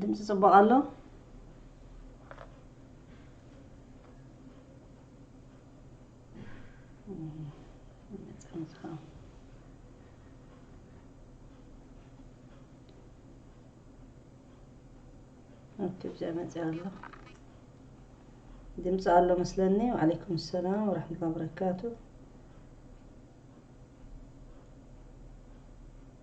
ድምፂ ፅቡቕ ኣሎ ብዚኣ መፅያ ኣሎ ድምፂ ኣሎ መስለኒ ወዓለይኩም ሰላም ወረሕመቱላ በረካቱ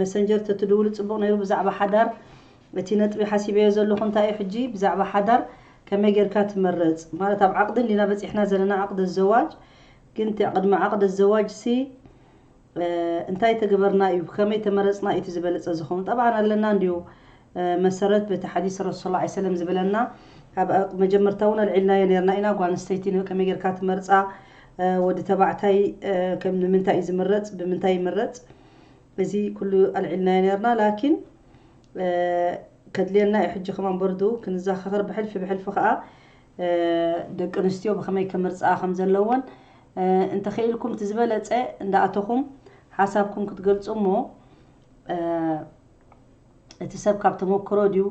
መሰንጀር ተትድውሊ ጽቡቅ ነይሩ ብዛዕባ ሓዳር እቲ ነጥቢ ሓሲበዮ ዘለኩ እንታይ እዩ ሕጂ ብዛዕባ ሓዳር ከመይ ጌርካ ትመርጽ ማለት ኣብ ዓቅዲ እንዲና በጺሕና ዘለና ዓቅዲ ኣዘዋጅ ግን ቅድሚ ዓቅዲ ኣዘዋጅ ሲ እንታይ ተገበርና እዩ ብከመይ ተመረጽና እዩ እቲ ዝበለጸ ዝከውን ጠብዓን ኣለና እንድዩ መሰረት በቲ ሓዲስ ረሱል ሰለላሁ ዓለይሂ ወሰለም ዝብለና ኣብ መጀመርታ እውን ኣልዒልናዮ ኔርና ኢና ጓል ኣንስተይቲ ከመይ ጌርካ ትመርጻ ወዲ ተባዕታይ ከም ንምንታይ እዩ ዝምረጽ ብምንታይ ይምረጽ እዚ ኩሉ ኣልዒልናዮ ኔርና ላኪን ከድልየና እዩ ሕጂ ከማን በርዱ ክንዘኻኸር ብሕልፊ ብሕልፊ ከኣ ደቂ ኣንስትዮ ብኸመይ ከምርጻኣ ከም ዘለወን እንተኸኢልኩም እቲ ዝበለጸ እንዳኣተኹም ሓሳብኩም ክትገልጹ እሞ እቲ ሰብ ካብ ተመክሮ ድዩ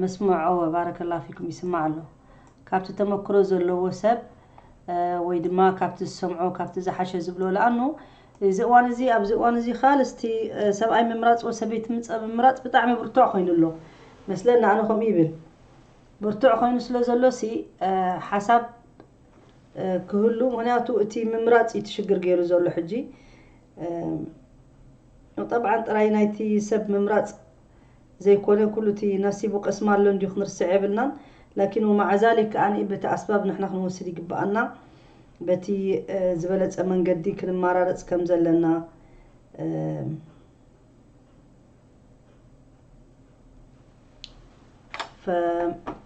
መስምዕ ኦወ ባረከላሁ ፊኩም ይስማዕ ኣሎ ካብቲ ተመክሮ ዘለዎ ሰብ ወይ ድማ ካብቲ ዝሰምዖ ካብቲ ዝሓሸ ዝብሎ ለኣኑ እዚ እዋን እዚ ኣብዚ እዋን እዚ ካልስቲ ሰብኣይ ምምራጽ ወይ ሰበይቲ ምምራጽ ብጣዕሚ ብርቱዕ ኮይኑ ኣሎ መስለኒ ኣነ ከምኡ ይብል ብርቱዕ ኮይኑ ስለ ዘሎሲ ሓሳብ ክህሉ ምክንያቱ እቲ ምምራጽ እዩ እቲ ሽግር ገይሩ ዘሎ ሕጂ ጠብዓን ጥራይ ናይቲ ሰብ ምምራጽ ዘይኮነ ኩሉ እቲ ናሲቡ ቀስማ ኣሎ እንዲዩ ክንርስዕ የብልናን ላኪን ወማዕዛሊክ ከኣ በቲ ኣስባብ ንሕና ክንወስድ ይግበኣና በቲ ዝበለጸ መንገዲ ክንማራረጽ ከምዘለና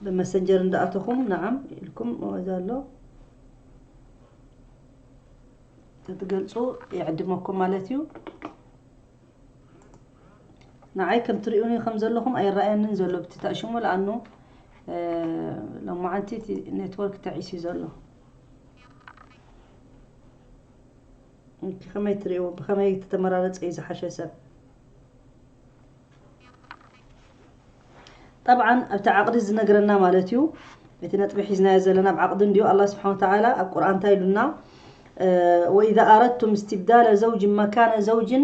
ብመሰንጀር እንዳኣተኹም ንዓም ኢልኩም ወዛ ኣሎ ተትገልፁ ይዕድመኩም ማለት እዩ ንዓይ ከም ትሪኡኒ ከም ዘለኹም ኣይረኣየንን ዘሎ ብቲ ተዕሽሙ ለኣኑ ሎማዓንቲ እቲ ኔትወርክ ተዒስዩ ዘሎ እንኪ ከመይ ትርእይዎ ብከመይ ተተመራረጸ እዩ ዝሓሸ ሰብ ጠብዓን ኣብቲ ዓቕዲ ዝነግረና ማለት እዩ እቲ ነጥቢ ሒዝናዮ ዘለና ኣብ ዓቕዲ እንድዩ ኣላ ስብሓን ወተዓላ ኣብ ቁርኣን እንታይ ኢሉና ወኢዛ ኣረድቱም እስትብዳለ ዘውጅን መካነ ዘውጅን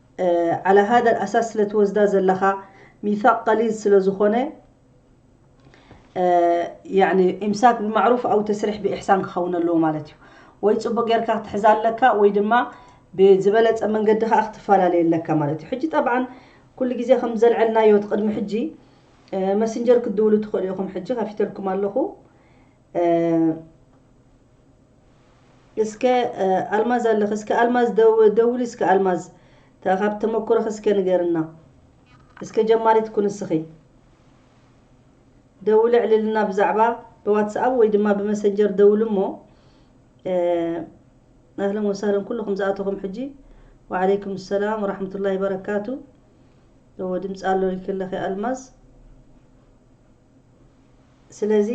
ዓላ ሃዳ ኣልኣሳስ ስለ ትወስዳ ዘለኻ ሚሳቅ ቀሊዝ ስለ ዝኾነ ያኒ ኢምሳክ ብማዕሩፍ ኣው ተስሪሕ ብኢሕሳን ክኸውን ኣለዎ ማለት እዩ። ወይ ጽቡቅ ጌርካ ክትሕዛ ኣለካ ወይ ድማ ብዝበለጸ መንገዲ ከኣ ክትፈላለየ ኣለካ ማለት እዩ። ሕጂ ጠብዓን ኩሉ ግዜ ከም ዘልዐልናዮ እቲ ቅድሚ ሕጂ መስንጀር ክትድውሉ ትኽእሉ ኢኹም ሕጂ ከፊተልኩም ኣለኹ። እስከ ኣልማዝ ኣለኺ እስከ ኣልማዝ ደውሊ እስከ ኣልማዝ ካብ ተመኩሮኺ እስከ ንገርና እስከ ጀማሪት ኩን እስኺ ደውሊ ዕልልና ብዛዕባ ብዋትስኣፕ ወይ ድማ ብመሰንጀር ደውሉ እሞ ኣህለን ወሳለን ኩልኹም ዝኣተኹም ሕጂ ወዓለይኩም ሰላም ወራሕመቱላሂ በረካቱ እዎ ድምፂ ኣሎ ሪክለኺ ኣልማዝ ስለዚ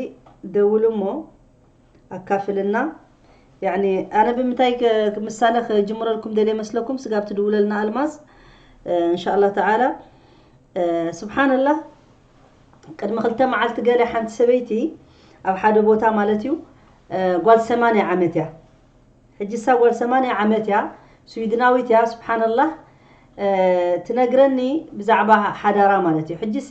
ደውሉ እሞ ኣካፍልና ያኒ ኣነ ብምታይ ምሳለ ክጅምረልኩም ደልየ መስለኩም ስጋብ ትድውለልና ኣልማዝ እንሻላ ተዓላ ስብሓንላህ ቅድሚ ክልተ መዓልቲ ገለ ሓንቲ ሰበይቲ ኣብ ሓደ ቦታ ማለት እዩ ጓል ሰማንያ ዓመት እያ ሕጂ እሳ ጓል ሰማንያ ዓመት እያ ስዊድናዊት እያ ስብሓንላህ ትነግረኒ ብዛዕባ ሓዳራ ማለት እዩ ሕጂሲ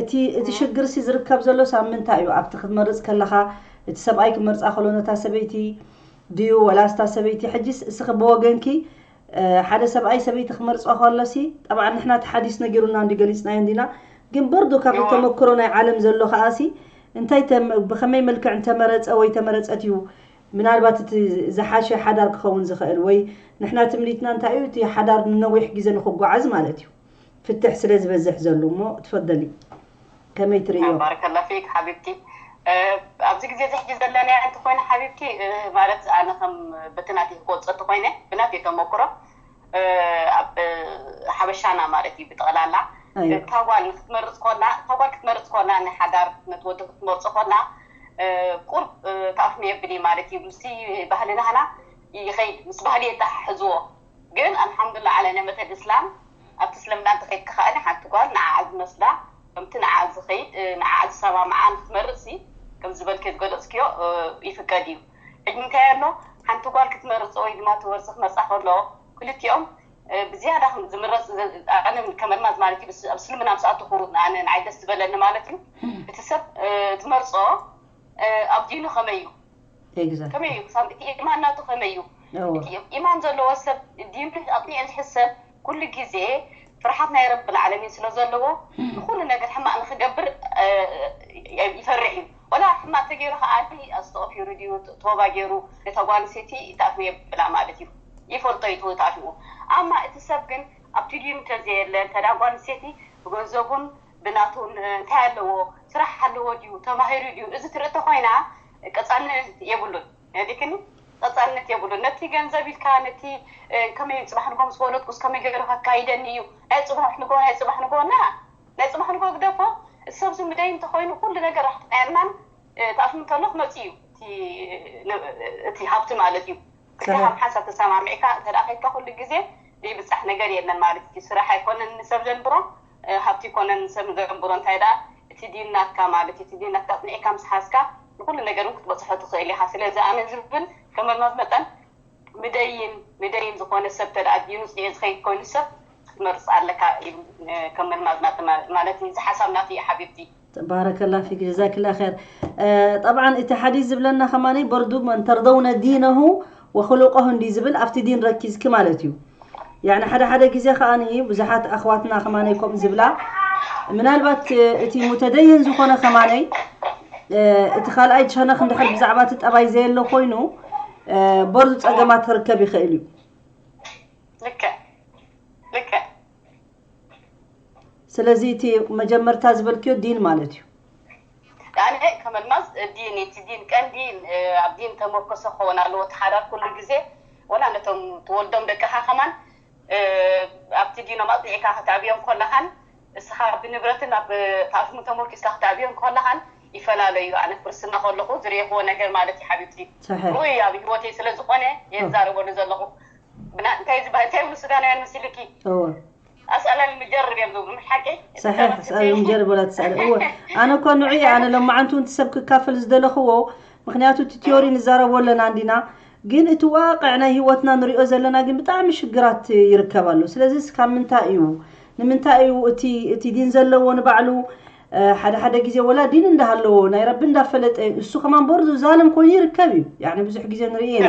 እቲ እቲ ሽግርሲ ዝርከብ ዘሎስ ኣብ ምንታይ እዩ? ኣብቲ ክትመርጽ ከለኻ እቲ ሰብኣይ ክመርጻ ከሎ ነታ ሰበይቲ ድዩ ወላስ እታ ሰበይቲ ሕጂስ እስኺ ብወገንኪ ሓደ ሰብኣይ ሰበይቲ ክመርጾ ከሎሲ ጠብዓ ንሕና እቲ ሓዲስ ነጊሩና እንዲ ገሊጽናዮ እንዲና ግን በርዱ ካብቲ ተመክሮ ናይ ዓለም ዘሎ ከኣሲ እንታይ ብኸመይ መልክዕ እንተመረጸ ወይ ተመረጸት እዩ ምናልባት እቲ ዝሓሸ ሓዳር ክኸውን ዝኽእል ወይ ንሕና ትምኒትና እንታይ እዩ እቲ ሓዳር ንነዊሕ ግዜ ንኽጓዓዝ ማለት እዩ ፍትሕ ስለ ዝበዝሕ ዘሎ እሞ ትፈደሊ ከመይ ትርእዮ። ባረከላ ፊክ ሓቢብቲ ኣብዚ ግዜ እዚ ሕጂ ዘለናዮ እንተኾይኑ ሓቢብቲ ማለት ኣነ ከም በቲ ናተይ ክገልጾ እንተኾይነ ብናተይ ተመኩሮ ኣብ ሓበሻና ማለት እዩ ብጠቕላላ እታ ጓል ንክትመርጽ ኮላ እታ ጓል ክትመርጽ ኮላ ንሓዳር ነቲ ወዲ ክትመርጾ ኮላ ቁርብ ተኣፍንዮ የብል እዩ ማለት እዩ ምስ ባህልናህና ይኸይድ ምስ ባህሊ የተሓሕዝዎ ግን ኣልሓምዱላ ዓላ ነመተል እስላም ኣብቲ እስልምና እንተኸይድካ ከኣ ሓንቲ ጓል ንዓኣ ዝመስላ ከምቲ ንዓኣ ዝኸይድ ንዓኣ ዝሰማምዓ ንክትመርጽሲ ከምዚ ዝበልክዮ ዝገለጽክዮ ይፍቀድ እዩ ሕጂ እንታይ ኣሎ ሓንቲ ጓል ክትመርጽ ወይ ድማ እቲ ወርሲ ክመርጻ ከሎ ክልቲኦም ብዝያዳ ዝምረጽ ኣነ ከመልማዝ ማለት እዩ ኣብ እስልምና ምስ ኣተኹ ኣነ ንዓይ ደስ ዝበለኒ ማለት እዩ እቲ ሰብ ትመርጾ ኣብ ዲኑ ከመይ እዩ ከመይ እዩ ክሳብ እቲ ኢማን ናቱ ከመይ እዩ እቲ ኢማን ዘለዎ ሰብ ዲኑ ኣቅኒዑ ዝሕዝ ሰብ ኩሉ ግዜ ፍርሓት ናይ ረብል ዓለሚን ስለ ዘለዎ ንኩሉ ነገር ሕማቅ ንክገብር ይፈርሕ እዩ ወላ ሕማቅ ተገይሩ ከኣ ኣስተቅፊሩ ድዩ ቶባ ገይሩ ነታ ጓል ኣንስተይቲ ይትኣትዎ የብላ ማለት እዩ ይፈልጦ እዩ ትኣትዎ ኣማ እቲ ሰብ ግን ኣብቲ ዲኑ እንተዘየለ እንተ ጓል ኣንስተይቲ ብገንዘቡን ብናቱ እንታይ ኣለዎ ስራሕ ኣለዎ ድዩ ተማሂሩ ድዩ እዚ ትርኢ ተኾይና ቀጻልነት የብሉን ዲክኒ ቀጻልነት የብሉን ነቲ ገንዘብ ኢልካ ነቲ ከመይ ጽባሕ ንጎ ምስ ወለድኩስ ከመይ ገይሩ ከካይደኒ እዩ ናይ ጽባሕ ንጎ ናይ ጽባሕ ንጎ ና ናይ ጽባሕ ንጎ ግደፎ ሰብ ዝምደይ እንተኾይኑ ኩሉ ነገር ራሕቲ ጥዕናን ተኣፍኑ እንተሎ ክመጽእ እዩ እቲ ሃብቲ ማለት እዩ ከም ሓንሳብ ተሰማሚዕካ እንተ ከይድካ ኩሉ ግዜ ዘይብጻሕ ነገር የለን ማለት እዩ ስራሕ ኣይኮነን ንሰብ ዘንብሮ ሃብቲ ይኮነን ንሰብ ንገንብሮ እንታይ ደኣ እቲ ዲን ናትካ ማለት እዩ እቲ ዲን ናትካ ኣጽኒዕካ ምስ ሓዝካ ንኩሉ ነገር ውን ክትበጽሖ ትክእል ኢካ ስለዚ ኣነ ዝብል ከመልማዝ መጠን ምደይን ምደይን ዝኮነ ሰብ እንተ ደኣ ዲኑ ጽኒዑ ዝከይድ ኮይኑ ሰብ ክትመርጽ ኣለካ ይብል ከም መልማዝ ናተይ ማለት እዩ እዚ ሓሳብ ናተይ እዩ ሓቢብቲ። ባረከላ ፊክ ጀዛክላ ር ጠብዓ እቲ ሓዲስ ዝብለና ከማ በርዱ መን ተርደውነ ዲነሁ ወክሉቀሁ እንዲ ዝብል ኣብቲ ዲን ረኪዝኪ ማለት እዩ ያኒ ሓደ ሓደ ግዜ ከዓ ብዙሓት ኣኽዋትና ከማነይ ከምኡ ዝብላ ምናልባት እቲ ሙተደይን ዝኾነ ከማነይ እቲ ካልኣይ ሸነኽ እንድሕር ብዛዕባ እቲ ጠባይ ዘየሎ ኮይኑ በርዱ ፀገማት ክርከብ ይኽእል እዩ ልክዕ ልክዕ ስለዚ እቲ መጀመርታ ዝበልክዮ ዲን ማለት እዩ። ያነ ከም ኣልማዝ ዲን እቲ ዲን ቀንዲ ኣብ ዲን ተመርኮሰ ክኸውን ኣለዎ እቲ ሓዳር ኩሉ ግዜ ወላ ነቶም ትወልዶም ደቅኻ ከማን ኣብቲ ዲኖም ኣጽኒዕካ ከተዕብዮም ከለኻን እስኻ ብንብረትን ኣብ ታሪኽን ተመርኪስካ ከተዕብዮም ከለኻን ይፈላለዩ ኣነ ክርስትና ከለኹ ዝርኤኽዎ ነገር ማለት እዩ ሓቢብቲ ሩኡይ ኣብ ሂወተይ ስለ ዝኾነ እየ ዝዛረበሉ ዘለኹ ብና እንታይ እዩ ዝበሃል እንታይ ይብሉ ሱዳናውያን መሲሉኪ እወ ኣስኣላል ምጀርብ እዮም ዝብሉ ምስ ሓቂ ሳሒሕ ስኣል ምጀርብ ወላ ትስኣል እወ ኣነ እኮ ንዑ እየ ኣነ ሎማዓንቲ እውን ትሰብ ክካፈል ዝደለኽዎ ምክንያቱ እቲ ቲዮሪ ንዛረቦ ኣለና እንዲና ግን እቲ ዋቅዕ ናይ ሂወትና ንሪኦ ዘለና ግን ብጣዕሚ ሽግራት ይርከብ ኣሎ ስለዚ እስካብ ምንታይ እዩ ንምንታይ እዩ እቲ እቲ ዲን ዘለዎ ንባዕሉ ሓደ ሓደ ግዜ ወላ ዲን እንዳሃለዎ ናይ ረቢ እንዳፈለጠ እዩ እሱ ከማን ቦርዱ ዛልም ኮይኑ ይርከብ እዩ ያኒ ብዙሕ ግዜ ንርኢ ኢና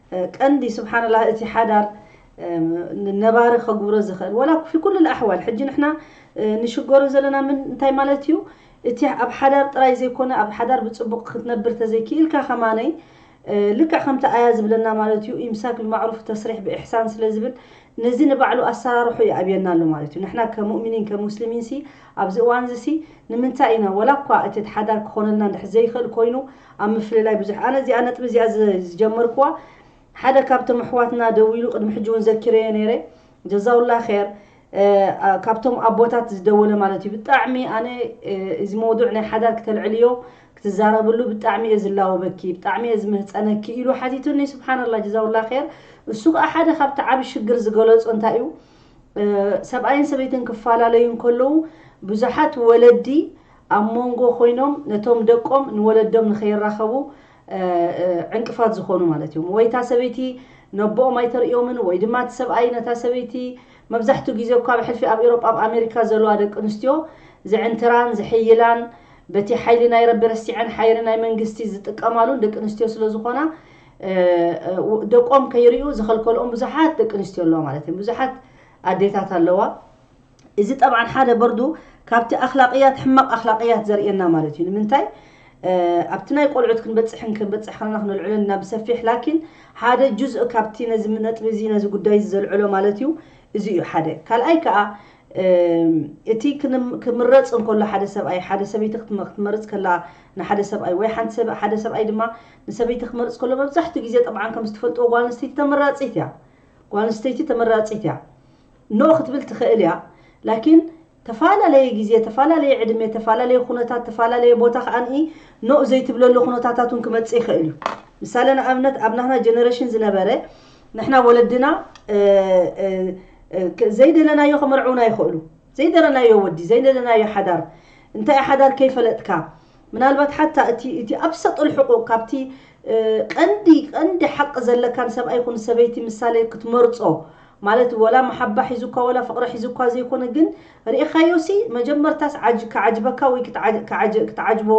ቀንዲ ስብሓነላህ እቲ ሓዳር ነባሪ ከግብሮ ዝኽእል ዋላ ፊ ኩሉል ኣሕዋል ሕጂ ንሕና ንሽገሮ ዘለና ምን እንታይ ማለት እዩ እቲ ኣብ ሓዳር ጥራይ ዘይኮነ ኣብ ሓዳር ብጽቡቕ ክትነብር ተዘይ ክኢልካ ከማነይ ልክዕ ከምቲ ኣያ ዝብለና ማለት እዩ ኢምሳክ ብማዕሩፍ ተስሪሕ ብኢሕሳን ስለ ዝብል ነዚ ንባዕሉ ኣሰራርሑ ይኣብየና ኣሎ ማለት እዩ ንሕና ከም ሙእሚኒን ከም ሙስሊሚንሲ ኣብዚ እዋንዚሲ ንምንታይ ኢና ዋላ እኳ እቲ ሓዳር ክኾነልና እንድሕር ዘይኽእል ኮይኑ ኣብ ምፍልላይ ብዙሕ ኣነ እዚኣ ነጥቢ እዚኣ ዝጀመርክዋ ሓደ ካብቶም ኣሕዋትና ደዊሉ ቅድሚ ሕጂ ውን ዘኪረዮ ነይረ ጀዛውላ ኼር ካብቶም ኣቦታት ዝደወለ ማለት እዩ ብጣዕሚ ኣነ እዚ መውዱዕ ናይ ሓዳር ክተልዕልዮ ክትዛረብሉ ብጣዕሚ እየ ዝላወበኪ ብጣዕሚ እየ ዝምህፀነኪ ኢሉ ሓቲቱኒ ስብሓንላ ጀዛውላ ር እሱ ከዓ ሓደ ካብቲ ዓብ ሽግር ዝገለፆ እንታይ እዩ ሰብኣይን ሰበይትን ክፈላለዩ እንከለዉ ብዙሓት ወለዲ ኣብ ሞንጎ ኮይኖም ነቶም ደቆም ንወለዶም ንከይራኸቡ ዕንቅፋት ዝኾኑ ማለት እዮም። ወይ እታ ሰበይቲ ነቦኦም ኣይተርእዮምን ወይ ድማ እቲ ሰብኣይ ነታ ሰበይቲ መብዛሕትኡ ግዜ እኳ ብሕልፊ ኣብ ኤውሮጳ ኣብ ኣሜሪካ ዘለዋ ደቂ ኣንስትዮ ዝዕንትራን ዝሕይላን በቲ ሓይሊ ናይ ረቢ ረሲዐን ሓይሪ ናይ መንግስቲ ዝጥቀማሉን ደቂ ኣንስትዮ ስለ ዝኾና ደቆም ከይርዩ ዝኸልከልኦም ብዙሓት ደቂ ኣንስትዮ ኣለዋ ማለት እየን ብዙሓት ኣዴታት ኣለዋ እዚ ጠብዓን ሓደ በርዱ ካብቲ ኣኽላቅያት ሕማቅ ኣኽላቅያት ዘርእየና ማለት እዩ ንምንታይ ኣብቲ ናይ ቆልዑት ክንበጽሕን ክንበጽሕ ከለና ክነልዕሎን ኢና ብሰፊሕ ላኪን ሓደ ጁዝእ ካብቲ ነዚ ነጥቢ እዚ ነዚ ጉዳይ እዚ ዘልዕሎ ማለት እዩ እዚ እዩ ሓደ ካልኣይ ከዓ እቲ ክምረጽ እንከሎ ሓደ ሰብኣይ ሓደ ሰበይቲ ክትመርጽ ከላ ንሓደ ሰብኣይ ወይ ሓንቲ ሰብ ሓደ ሰብኣይ ድማ ንሰበይቲ ክመርጽ ከሎ መብዛሕትኡ ግዜ ጠብዓን ከም ዝትፈልጥዎ ጓል ኣንስተይቲ ተመራጺት እያ ጓል ኣንስተይቲ ተመራጺት እያ No ክትብል ትክእል እያ ላኪን ተፋላለየ ግዜ ተፋላለየ ዕድመ ተፋላለየ ኩነታት ተፋላለየ ቦታ ከኣንኢ No ዘይትብለሉ ኩነታታት ውን ክመጽእ ይክእል እዩ ምሳለ ንኣብነት ኣብ ናህና ጀነረሽን ዝነበረ ንሕና ወለድና ዘይደለናዮ ክምርዕውና ይክእሉ ዘይደለናዮ ወዲ ዘይደለናዮ ሓዳር እንታይ እዩ ሓዳር ከይፈለጥካ ምናልባት ሓታ እቲ እቲ ኣብሰጡል ሕቁቅ ካብቲ ቀንዲ ቀንዲ ሓቂ ዘለካን ሰብኣይ ይኩን ሰበይቲ ምሳለ ክትመርጾ ማለት ወላ መሓባ ሒዙካ ወላ ፍቅሪ ሒዙካ ዘይኮነ ግን ሪኢካዮሲ መጀመርታስ ዓጅ ክዓጅበካ ወይ ክትዓጅ ክትዓጅቦ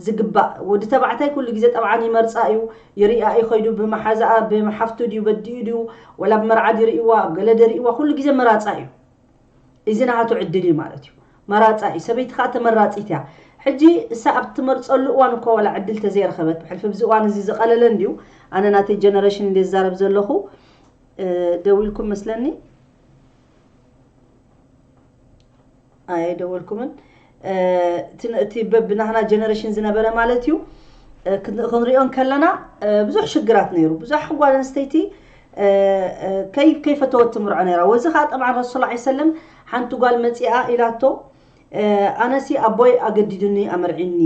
ዝግባእ ወዲ ተባዕታይ ኩሉ ግዜ ጠብዓን ይመርጻ ኢዩ ይሪኣ ኢዩ ከይዱ ብመሓዛኣ ብሓፍቱ ድዩ በዲኡ ድዩ ወላ ብ መርዓ ድዩ ሪኢዋ ብ ገለ ድዩ ሪኢዋ ኩሉ ግዜ መራጻ ኢዩ ኢዚ ናሃቱ ዕድል ኢዩ ማለት ኢዩ መራጻ ኢዩ ሰበይቲ ከኣ ተመራጺት ኢያ ሕጂ እሳ ኣብ ትመርጸሉ እዋን እኳ ወላ ዕድል ተዘይረከበት ብሕልፊ ብዚ እዋን እዚ ዝቀለለ እንድዩ ኣነ ናተይ ጀነረሽን እንድየ ዝዛረብ ዘለኩ ደዊልኩም መስለኒ ኣይደወልኩምን እቲ ብናህና ጀነሬሽን ዝነበረ ማለት እዩ ክንሪኦ ከለና ብዙሕ ሽግራት ነይሩ ብዙሕ ጓል ኣንስተይቲ ከይፈተወት ትምርዖ ነይራ ወዚ ከዓ ጠብዓ ረሱል ላ ሰለም ሓንቲ ጓል መፂኣ ኢላቶ ኣነሲ ኣቦይ ኣገዲዱኒ ኣመርዒኒ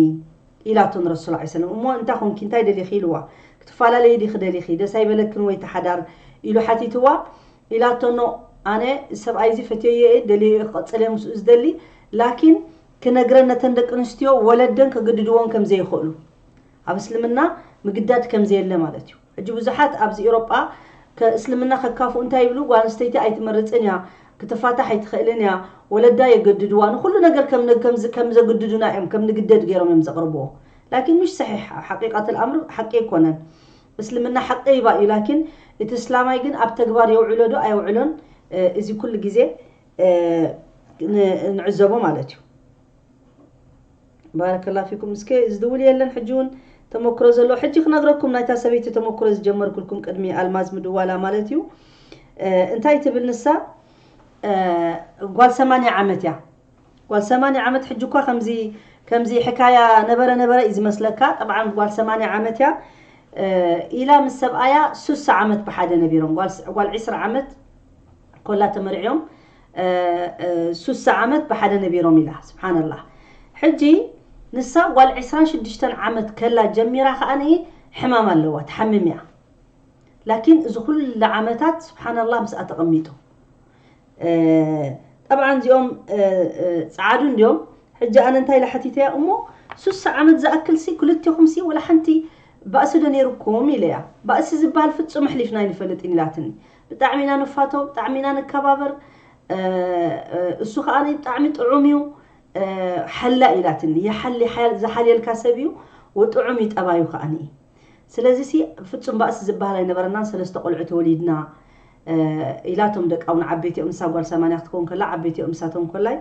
ኢላቶ ንረሱል ዓለይሂ ሰለም እሞ እንታይ ኮንኪ እንታይ ደሊኺ ኢልዋ ክትፋላለዪ ዲኺ ደሊኺ ደስ ኣይበለክን ወይ ተሓዳር ኢሉ ሓቲትዋ ኢላቶ ን ኣነ እዚ ሰብኣይ እዚ ፈትየዮ እየ ደልየዮ እየ ክቕፅል እየ ምስኡ ዝደሊ ላኪን ክነግረን ነተን ደቂ ኣንስትዮ ወለደን ከግድድዎን ከምዘይኽእሉ ኣብ እስልምና ምግዳድ ከምዘየለ ማለት እዩ ሕጂ ብዙሓት ኣብዚ ኤውሮጳ ከእስልምና ከካፍኡ እንታይ ይብሉ ጓል ኣንስተይቲ ኣይትመርጽን እያ ክትፋታሕ ኣይትኽእልን እያ ወለዳ የገድድዋ ንኹሉ ነገር ከም ከምዚ ከም ዘግድዱና እዮም ከም ንግደድ ገይሮም እዮም ዘቕርብዎ ላኪን ምሽ ሰሒሕ ኣብ ሓቂቀት ኣልኣምር ሓቂ ኣይኮነን እስልምና ሓቂ ይባ እዩ ላኪን እቲ እስላማይ ግን ኣብ ተግባር የውዕሎ ዶ ኣየውዕሎን እዚ ኩሉ ግዜ ንዕዘቦ ማለት እዩ ባረከላ ፊኩም እስከ ዝድውል የለን ሕጂ ውን ተመክሮ ዘለዎ ሕጂ ክነግረኩም ናይታ ሰበይቲ ተመክሮ ዝጀመርኩልኩም ቅድሚ ኣልማዝ ምድዋላ ማለት እዩ እንታይ ትብል ንሳ ጓል ሰማንያ ዓመት እያ ጓል ሰማንያ ዓመት ሕጂ እኳ ከምዚ ከምዚ ሕካያ ነበረ ነበረ እዩ ዝመስለካ ጠብዓን ጓል ሰማንያ ዓመት እያ ኢላ ምስ ሰብኣያ ሱሳ ዓመት ብሓደ ነቢሮም ጓል ዕስራ ዓመት ኮላ ተመርዕዮም ሱሳ ዓመት ብሓደ ነቢሮም ኢላ ስብሓነላህ ሕጂ ንሳ ጓል ዕስራን ሽዱሽተን ዓመት ከላ ጀሚራ ከኣ ሕማም ኣለዋ ትሓምም እያ ላኪን እዚ ኩሉ ዓመታት ስብሓነላህ ምስኣ ተቐሚጡ ጠብዓን እዚኦም ጸዓዱ እንዲዮም ሕጂ ኣነ እንታይ ኢለ ሓቲተያ እሞ ሱሳ ዓመት ዝኣክልሲ ክልቴኹምሲ ወላ ሓንቲ ባእሲ ዶ ነይሩኩም ኢለያ ባእሲ ዝበሃል ፍጹም ኣሕሊፍና ኣይንፈልጥን ኢላትኒ ብጣዕሚ ኢና ንፋቶ ብጣዕሚ ኢና ንከባበር እሱ ከኣ ብጣዕሚ ጥዑም እዩ ሓላይ ኢላትኒ ይሓሊ ዝሓልየልካ ሰብ እዩ ወጥዑም እዩ ጠባዩ ከኣ ስለዚ ሲ ፍጹም ባእሲ ዝበሃል ኣይነበረናን ሰለስተ ቆልዑት ወሊድና ኢላቶም ደቃ እውን ዓበይቲ እዮም ንሳ ጓል ሰማንያ ክትከውን ከላ ዓበይቲ እዮም ንሳቶም ኮላይ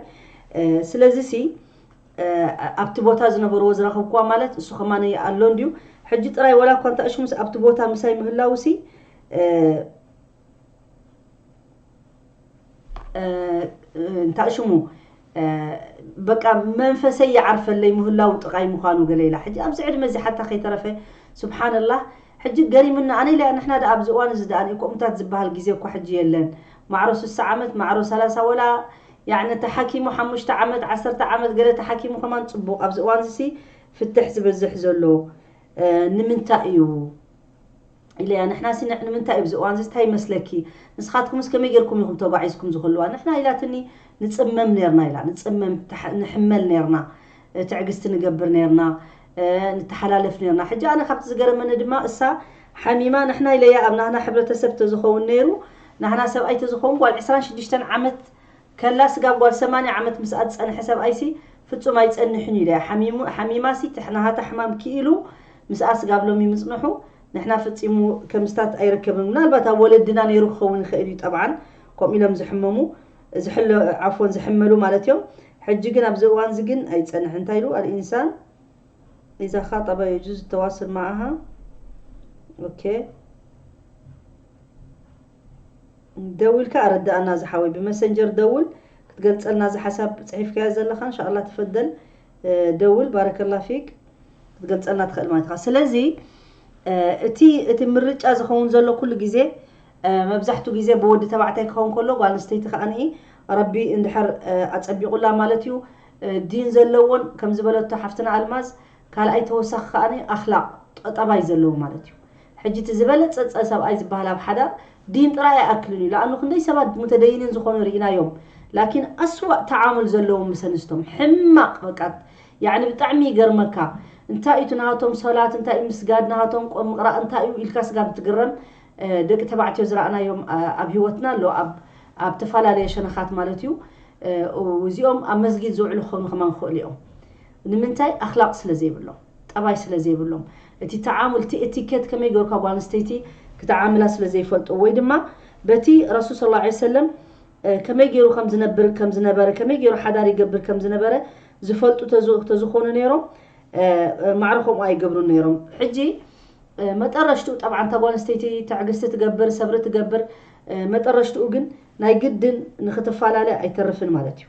ስለዚ ሲ ኣብቲ ቦታ ዝነበርዎ ዝረኸብኩዋ ማለት እሱ ከማነ ኣሎ እንድዩ ሕጂ ጥራይ ወላ እኳ እንተእሽሙስ ኣብቲ ቦታ ምሳይ ምህላውሲ እንታይ ሽሙ በቃ መንፈሰይ ይዓርፈለይ ምህላው ጥቓይ ምዃኑ ገለ ኢላ ሕጂ ኣብዚ ዕድመ እዚ ሓታ ከይተረፈ ስብሓንላህ ሕጂ ገሪምና ኣነ ኢለ ንሕና ደኣ ኣብዚ እዋን እዚ ደኣ ከምኡታት ዝበሃል ግዜ እኳ ሕጂ የለን ማዕሮ ስሳ ዓመት ማዕሮ ሰላሳ ወላ ያዕኒ ተሓኪሙ ሓሙሽተ ዓመት ዓሰርተ ዓመት ገለ ተሓኪሙ ከማን ፅቡቕ ኣብዚ እዋን እዚ ፍትሕ ዝበዝሕ ዘሎ ንምንታይ እዩ ኢለያ ንሕና ሲ ንምንታይ እብዚ እዋንዚ ታይ ይመስለኪ ንስኻትኩምስ ከመይ ጌርኩም ኢኹም ተጓዒዝኩም ዝኹሉዋ ንሕና ኢላትኒ ንጽመም ኔርና ኢላ ንጽመም ንሕመል ኔርና ትዕግስቲ ንገብር ኔርና ንተሓላለፍ ኔርና ሕጂ ኣነ ካብቲ ዝገረመኒ ድማ እሳ ሓሚማ ንሕና ኢለያ ኣብ ናህና ሕብረተሰብ ተዝኸውን ኔሩ ናህና ሰብኣይ ተዝኸውን ጓል ዕስራን ሽዱሽተን ዓመት ከላ ስጋብ ጓል ሰማንያ ዓመት ምስኣ ዝጸንሐ ሰብኣይሲ ፍጹም ኣይጸንሕን'ዩ ኢላያ። ሓሚሙ ሓሚማሲ ትሕናሃታ ሕማም ክኢሉ ምስኣ ስጋብ ሎሚ ምጽንሑ ንሕና ፈጺሙ ከምስታት ኣይርከብን። ምናልባት ኣብ ወለድና ነይሩ ክኸውን ይኽእል'ዩ ጠብዓን ከምኡ ኢሎም ዝሕመሙ ዝሕለ ዓፍወን ዝሕመሉ ማለት'ዮም። ሕጂ ግን ኣብዚ እዋንዚ ግን ኣይጸንሕን እንታይ ኢሉ ኣልኢንሳን ኢዛ ኻጠባ የጁዝ ተዋስል መዓሃ ኦኬ። ደዊልካ ኣረዳኣና ዝሓወይ ብመሰንጀር ደውል ክትገልጸልና እዚ ሓሳብ ጽሒፍካዮ ዘለካ እንሻኣላ ተፈደል ደውል ባረከላ ፊክ ክትገልጸልና ትክእል ማለት ኢካ ስለዚ እቲ እቲ ምርጫ ዝኸውን ዘሎ ኩሉ ግዜ መብዛሕቱ ግዜ ብወዲ ተባዕታይ ክኸውን ከሎ ጓል ኣንስተይቲ ከኣ ረቢ እንድሕር ኣጸቢቑላ ማለት እዩ ዲን ዘለዎን ከም ዝበለቶ ሓፍትና ኣልማዝ ካልኣይ ተወሳኺ ከኣ ኣኽላቕ ጠባይ ዘለዎ ማለት እዩ ሕጂ እቲ ዝበለጸ ጸ ሰብኣይ ዝበሃል ኣብ ሓዳር ዲን ጥራይ ኣይኣክልን እዩ ለኣኑ ክንደይ ሰባት ሙተደይኒን ዝኾኑ ሪኢናዮም ላኪን ኣስዋእ ተዓሙል ዘለዎም ምስ ኣንስቶም ሕማቅ በቃ ያዕኒ ብጣዕሚ ይገርመካ እንታይ እዩ እቲ ናሃቶም ሶላት እንታይ እዩ ምስጋድ ናሃቶም ቁር ምቅራእ እንታይ እዩ ኢልካ ስጋብ ትግረም ደቂ ተባዕትዮ ዝራእናዮም ኣብ ሂወትና ኣሎ ኣብ ኣብ ተፋላለየ ሸነኻት ማለት እዩ እዚኦም ኣብ መስጊድ ዝውዕሉ ክኾኑ ከማን ክኽእሉ እዮም ንምንታይ ኣኽላቅ ስለ ዘይብሎም። ጠባይ ስለ ዘይብሎም እቲ ተዓሙል እቲ እቲኬት ከመይ ገርካ ጓል ኣንስተይቲ ክትዓምላ ስለ ዘይፈልጡ ወይ ድማ በቲ ረሱል ሰለላሁ ዓለይሂ ወሰለም ከመይ ገይሩ ከም ዝነብር ከም ዝነበረ ከመይ ገይሩ ሓዳር ይገብር ከም ዝነበረ ዝፈልጡ ተዝኾኑ ነይሮም ማዕረ ከምኡ ኣይገብሩን ነይሮም ሕጂ መጠረሽትኡ ጠብዓን እታ ጓል ኣንስተይቲ ትዕግስቲ ትገብር ሰብሪ ትገብር መጠረሽትኡ ግን ናይ ግድን ንክትፈላለ ኣይተርፍን ማለት እዩ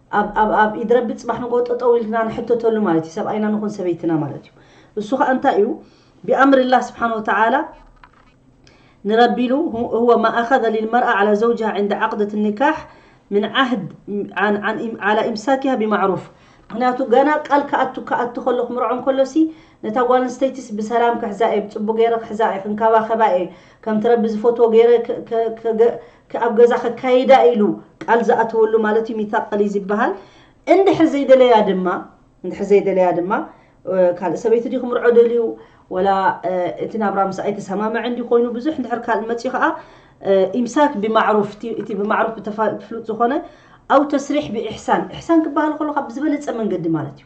ኣብ ኣብ ኣብ ኢድ ረቢ ጽባሕ ንግሆ ጠጠው ኢልና ንሕተተሉ ማለት እዩ ሰብኣይና ንኹን ሰበይትና ማለት እዩ እሱ ከኣ እንታይ እዩ ቢኣምርላህ ስብሓን ወተዓላ ንረቢ ኢሉ ሁወ ማ ኣኸዘ ሊልመርኣ ዓላ ዘውጅሃ ዕንደ ዓቅደት ኒካሕ ምን ዓህድ ዓላ ኢምሳኪሃ ቢማዕሩፍ ምክንያቱ ገና ቃል ክኣቱ ክኣቱ ከሎ ክምርዖ እንከሎ ሲ ነታ ጓል ኣንስተይቲስ ብሰላም ክሕዛ እየ ብጽቡቅ ገይረ ክሕዛ እየ ክንከባኸባ እየ ከምቲ ረቢ ዝፈትዎ ገይረ ኣብ ገዛ ከካይዳ ኢሉ ቃል ዝኣተወሉ ማለት እዩ ሚታቅል እዩ ዝበሃል እንድሕር ዘይደለያ ድማ እንድሕር ዘይደለያ ድማ ካልእ ሰበይቲ ድዩ ክምርዖ ደልዩ ወላ እቲ ናብራ ምስ ኣይተሰማምዐ እንዲ ኮይኑ ብዙሕ እንድሕር ካልእ መፅዩ ከዓ ኢምሳክ ብማዕሩፍ እቲ ብማዕሩፍ ብፍሉጥ ዝኾነ ኣው ተስሪሕ ብኢሕሳን ኢሕሳን ክበሃል ከሎ ካብ ብዝበለፀ መንገዲ ማለት እዩ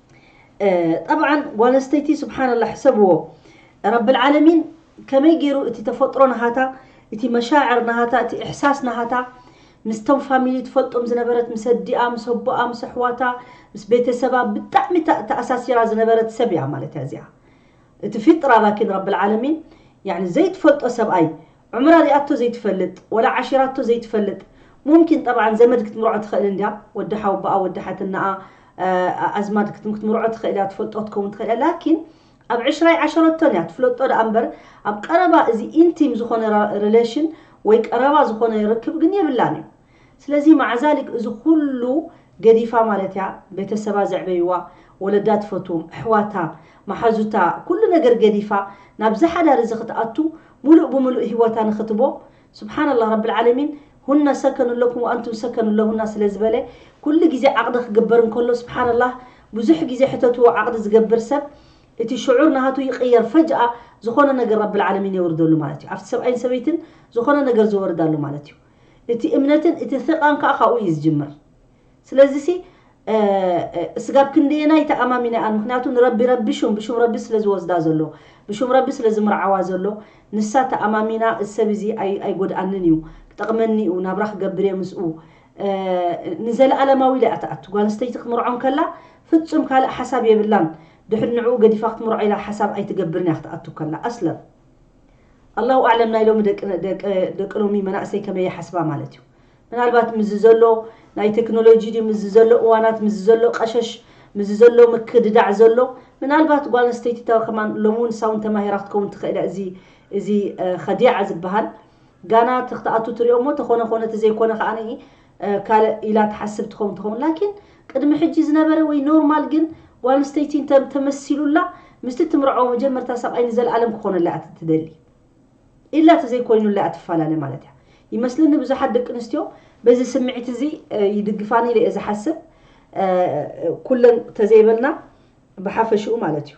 ጠብዓን ጓል ኣንስተይቲ ስብሓንላ ሕሰብዎ ረብልዓለሚን ከመይ ገይሩ እቲ ተፈጥሮ ናሃታ እቲ መሻዕር ናሃታ እቲ እሕሳስ ናሃታ ምስቶም ፋሚሊ ትፈልጦም ዝነበረት ምስ ኣዲኣ ምስ ኣቦኣ ምስ ኣሕዋታ ምስ ቤተሰባ ብጣዕሚ ተኣሳሲራ ዝነበረት ሰብ እያ ማለት እያ እዚኣ እቲ ፊጥራ ላኪን ረብልዓለሚን ዘይትፈልጦ ሰብኣይ ዕምራ ሪኣቶ ዘይትፈልጥ ወላ ዓሺራቶ ዘይትፈልጥ ሙምኪን ጠብዓን ዘመድ ክትምርዖ ትኽእል እንድያ ወዲ ሓውቦኣ ወዲ ሓትነኣ ኣዝማድ ክትምርዖ ትኽእል እያ ትፈልጦ ክትከውን ትኽእል እያ ላኪን ኣብ ዕሽራ ኣይዓሸረቶን እያ ትፍለጦ ደኣ እምበር ኣብ ቀረባ እዚ ኢንቲም ዝኾነ ረለሽን ወይ ቀረባ ዝኾነ ርክብ ግን የብላን እዩ ስለዚ ማዕዛሊክ እዚ ኩሉ ገዲፋ ማለት እያ ቤተሰባ ዘዕበይዋ ወለዳ ትፈትዎም ኣሕዋታ ማሓዙታ ኩሉ ነገር ገዲፋ ናብዚ ሓዳር እዚ ክትኣቱ ሙሉእ ብሙሉእ ሂወታ ንክትቦ ሱብሓነላህ ረብልዓለሚን ሁነ ሰከኑን ለኩም ወኣንቱም ሰከኑን ለሁና ስለ ዝበለ ኩሉ ግዜ ዓቅዲ ክግበር እንከሎ ሱብሓነላህ ብዙሕ ግዜ ሕተትዎ ዓቅዲ ዝገብር ሰብ እቲ ሽዑር ናሃቱ ይቅየር ፈጅኣ ዝኮነ ነገር ረብልዓለሚን የውርደሉ ማለት እዩ ኣብቲ ሰብኣይን ሰበይትን ዝኮነ ነገር ዝወርድ ኣሎ ማለት እዩ እቲ እምነትን እቲ ثቃን ከኣ ካብኡ እዩ ዝጅምር ስለዚሲ እስጋብ ክንደየናይ ተኣማሚነኣን ምክንያቱ ንረቢ ረቢ ሹም ብሹም ረቢ ስለ ዝወስዳ ዘሎ ብሹም ረቢ ስለ ዝምርዓዋ ዘሎ ንሳ ተኣማሚና እዚ ሰብ እዚ ኣይጎድኣንን እዩ ክጠቅመኒ እዩ ናብራ ክገብር እየ ምስኡ ንዘለኣለማዊ ኢላ እያ ትኣቱ ጓል ኣንስተይቲ ክትምርዖ እንከላ ፍጹም ካልእ ሓሳብ የብላን ድሕሪ ንዕኡ ገዲፋ ክትምርዖ ኢላ ሓሳብ ኣይትገብርን እያ ክትኣቱ ከላ ኣስለን ኣላሁ ኣዕለም ናይ ሎሚ ደቂ ሎሚ መናእሰይ ከመይ ይሓስባ ማለት እዩ ምናልባት ምዚ ዘሎ ናይ ቴክኖሎጂ ድዩ ምዚ ዘሎ እዋናት ምዚ ዘሎ ቀሸሽ ምዚ ዘሎ ምክድዳዕ ዘሎ ምናልባት ጓል ኣንስተይቲ ከማን ሎሚ እውን ሳውን ተማሂራ ክትከውን ትኽእል እያ እዚ እዚ ከዲዓ ዝበሃል ጋና ተክትኣቱ ትሪኦሞ ተኾነ ኮነ ተዘይኮነ ከኣ ካልእ ኢላ ትሓስብ ትኸውን ትኸውን ላኪን ቅድሚ ሕጂ ዝነበረ ወይ ኖርማል ግን ጓል ኣንስተይቲ እንተ ተመሲሉላ ምስቲ ትምርዐዎ መጀመርታ ሰብኣይ ንዘልኣለም ክኾነላ እያ ትደሊ ኢላ ተዘይኮይኑላ እያ ትፋላለ ማለት እያ ይመስለኒ ብዙሓት ደቂ ኣንስትዮ በዚ ስምዒት እዚ ይድግፋኒ ኢለ እየ ዝሓስብ ኩለን ተዘይበልና ብሓፈሽኡ ማለት እዩ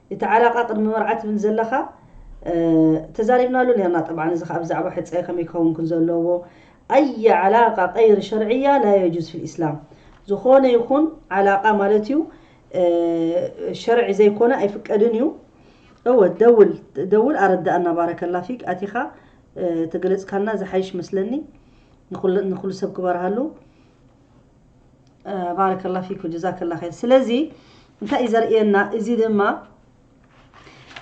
እቲ ዓላቃ ቅድሚ መርዓ ትብል ዘለካ ተዛሪብናሉ ነርና ጠብዓን እዚ ከኣ ብዛዕባ ሕጸ ከመይ ክከውን ክን ዘለዎ ኣይ ዓላቃ ቀይሪ ሸርዕያ ላ የጁዝ ፊል ኢስላም ዝኮነ ይኩን ዓላቃ ማለት እዩ ሸርዒ ዘይኮነ ኣይፍቀድን እዩ እወ ደውል ደውል ኣረዳእና ባረከላ ፊክ ኣቲካ ተገለጽካልና ዝሓይሽ መስለኒ ንኩሉ ሰብ ክበርሃሉ ባረከላ ፊኩ ጀዛከላ ኸይር ስለዚ እንታይ እዩ ዘርእየና እዚ ድማ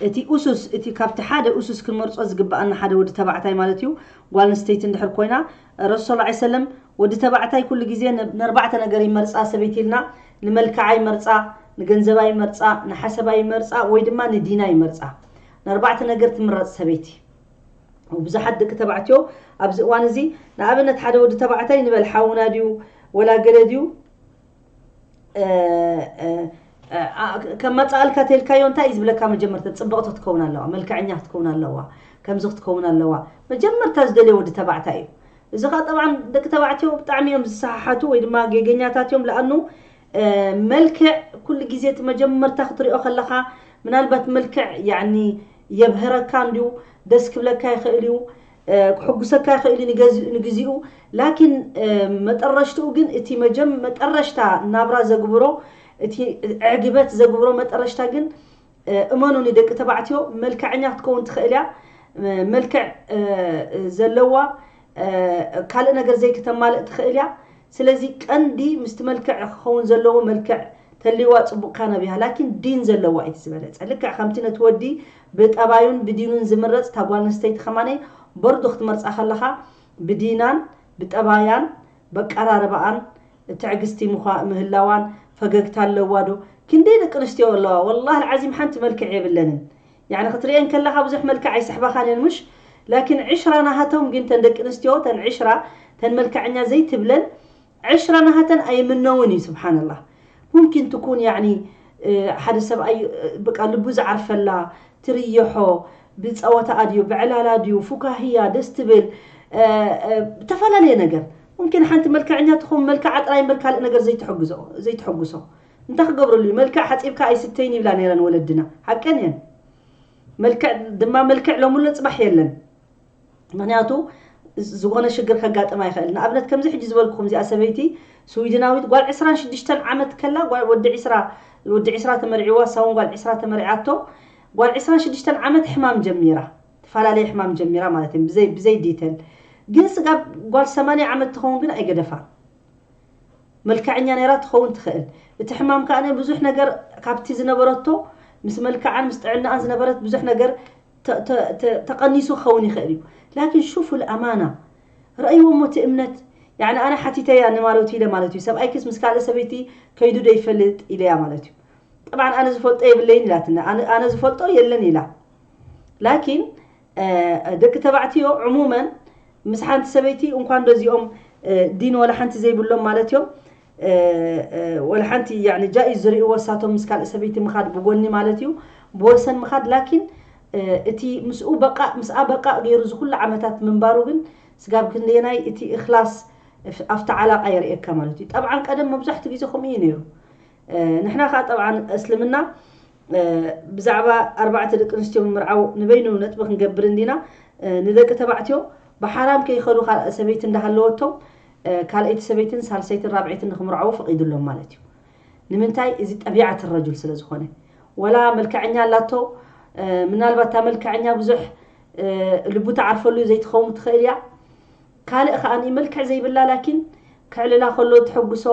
እቲ ኡሱስ እቲ ካብቲ ሓደ ኡሱስ ክንመርጾ ዝግብኣና ሓደ ወዲ ተባዕታይ ማለት እዩ ጓል ኣንስተይቲ እንድሕር ኮይና ረሱል ስ ሰለም ወዲ ተባዕታይ ኩሉ ግዜ ንኣርባዕተ ነገር ይመርጻ ሰበይቲ ኢልና ንመልክዓ ይመርጻ ንገንዘባ ይመርጻ ንሓሰባ ይመርጻ ወይ ድማ ንዲና ይመርጻ ንኣርባዕተ ነገር ትምረጽ ሰበይቲ ብዙሓት ደቂ ተባዕትዮ ኣብዚ እዋን እዚ ንኣብነት ሓደ ወዲ ተባዕታይ ንበል ሓውና ድዩ ወላ ገለ ድዩ ከማፃኣልካ ተልካዮ እንታይ እዩ ዝብለካ መጀመርታ ፅብቕቲ ክትከውን ኣለዋ መልክዐኛ ክትከውን ኣለዋ ከምዚ ክትከውን ኣለዋ መጀመርታ ዝደልዮ ወዲ ተባዕታይ እዩ እዚ ከዓ ጠብዓ ደቂ ተባዕትዮ ብጣዕሚ እዮም ዝሰሓሓቱ ወይ ድማ ጌገኛታት እዮም ለኣኑ መልክዕ ኩሉ ግዜ እቲ መጀመርታ ክትሪኦ ከለኻ ምናልባት መልክዕ ያኒ የብህረካ እንድዩ ደስ ክብለካ ይኽእል እዩ ክሕጉሰካ ይኽእል እዩ ንግዚኡ ላኪን መጠረሽትኡ ግን እቲ መጀም መጠረሽታ ናብራ ዘግብሮ እቲ ዕግበት ዘግብሮ መጠረሽታ ግን እመኑኒ ደቂ ተባዕትዮ መልከዐኛ ክትከውን ትክእል እያ መልክዕ ዘለዋ ካልእ ነገር ዘይክተማልእ ትክእል እያ ስለዚ ቀንዲ ምስቲ መልክዕ ክከውን ዘለዎ መልክዕ ተልይዋ ጽቡቅ ካን ኣብያ ላኪን ዲን ዘለዋ እዩ ዝበለጸ ልክዕ ከምቲ ነቲ ወዲ ብጠባዩን ብዲኑን ዝምረጽ እታ ጓል ኣንስተይቲ ከማነይ በርዶ ክትመርጻ ከለካ ብዲናን ብጠባያን በቀራርባኣን ትዕግስቲ ምዃእ ምህላዋን ፈገግታ ኣለዋ ዶ ክንደይ ደቂ ኣንስትዮ ኣለዋ ወላሂ ኣልዓዚም ሓንቲ መልክዕ የብለንን ያኒ ክትርእየን ከለኻ ብዙሕ መልክዕ ኣይስሕባኻን እየን ሙሽ ላኪን ዕሽራ ናሃቶም ግን ተን ደቂ ኣንስትዮ ተን ዕሽራ ተን መልክዐኛ ዘይትብለን ዕሽራ ናሃተን ኣይምነውን እዩ ስብሓንላህ ሙምኪን ትኩን ያኒ ሓደ ሰብኣይ በቃ ልቡ ዝዓርፈላ ትርየሖ ብፀወታኣ ድዩ ብዕላላ ድዩ ፉካህያ ደስ ትብል ዝተፈላለየ ነገር ሙምኪን ሓንቲ መልከዐኛ ትኸውን መልከዓ ጥራይ እምበር ካልእ ነገር ዘይተሐግዞ ዘይተሐጉሶ እንታይ ክገብረሉ እዩ መልክዕ ሓጺብካ ኣይስተይን ይብላ ነይረን ወለድና ሓቀን እየን መልክዕ ድማ መልክዕ ሎሚ ኣሎ ጽባሕ የለን ምክንያቱ ዝኾነ ሽግር ከጋጥማ ይኽእል ንኣብነት ከምዚ ሕጂ ዝበልኩኹም እዚኣ ሰበይቲ ስዊድናዊት ጓል 26 ዓመት ከላ ወዲ 20 ወዲ 20 ተመርዒዋ ሳውን ጓል 20 ተመርዒያቶ ጓል 26 ዓመት ሕማም ጀሚራ ትፋላለየ ሕማም ጀሚራ ማለት እየ ብዘይ ብዘይ ዲተል ግን ስጋብ ጓል ሰማንያ ዓመት ትከውን ግን ኣይገደፋ መልከዐኛ ነራ ትከውን ትክእል እቲ ሕማም ከኣ ብዙሕ ነገር ካብቲ ዝነበረቶ ምስ መልከዓን ምስ ጥዕናኣን ዝነበረት ብዙሕ ነገር ተቀኒሱ ክከውን ይክእል እዩ ላኪን ሹፉ ልኣማና ረእይዎ እሞ እቲ እምነት ያኒ ኣነ ሓቲተያ ንማለቱ ኢለ ማለት እዩ ሰብኣይክስ ምስ ካልእ ሰበይቲ ከይዱ ዶ ይፈልጥ ኢለያ ማለት እዩ ጠብዓን ኣነ ዝፈልጦ የብለይን ኢላትና ኣነ ዝፈልጦ የለን ኢላ ላኪን ደቂ ተባዕትዮ ዑሙመን ምስ ሓንቲ ሰበይቲ እንኳን ደዚኦም ዲን ወላ ሓንቲ ዘይብሎም ማለት እዮም ወላ ሓንቲ ያኒ ጃኢዝ ዝርእይዎ እሳቶም ምስ ካልእ ሰበይቲ ምኻድ ብጎኒ ማለት እዩ ብወሰን ምኻድ ላኪን እቲ ምስኡ በቃእ ምስኣ በቃእ ገይሩ ዝኩሉ ዓመታት ምንባሩ ግን ስጋብ ክንደየናይ እቲ እክላስ ኣብቲ ዓላቃ የርእየካ ማለት እዩ ጠብዓን ቀደም መብዛሕትኡ ግዜ ከምኡ እዩ ነይሩ ንሕና ከኣ ጠብዓን እስልምና ብዛዕባ ኣርባዕተ ደቂ ኣንስትዮ ምምርዓው ንበይኑ ነጥቢ ክንገብር እንዲና ንደቂ ተባዕትዮ ብሓራም ከይኸዱ ካልእ ሰበይቲ እንዳሃለወቶም ካልኣይቲ ሰበይትን ሳልሰይትን ራብዐይትን ንክምርዓው ፈቒዱሎም ማለት እዩ ንምንታይ እዚ ጠቢዓት ረጁል ስለ ዝኾነ ወላ መልክዐኛ ኣላቶ ምናልባት እታ መልክዐኛ ብዙሕ ልቡ ተዓርፈሉ ዘይትኸውን ትኽእል እያ ካልእ ከኣ መልክዕ ዘይብላ ላኪን ከዕልላ ከሎ እተሐጉሶ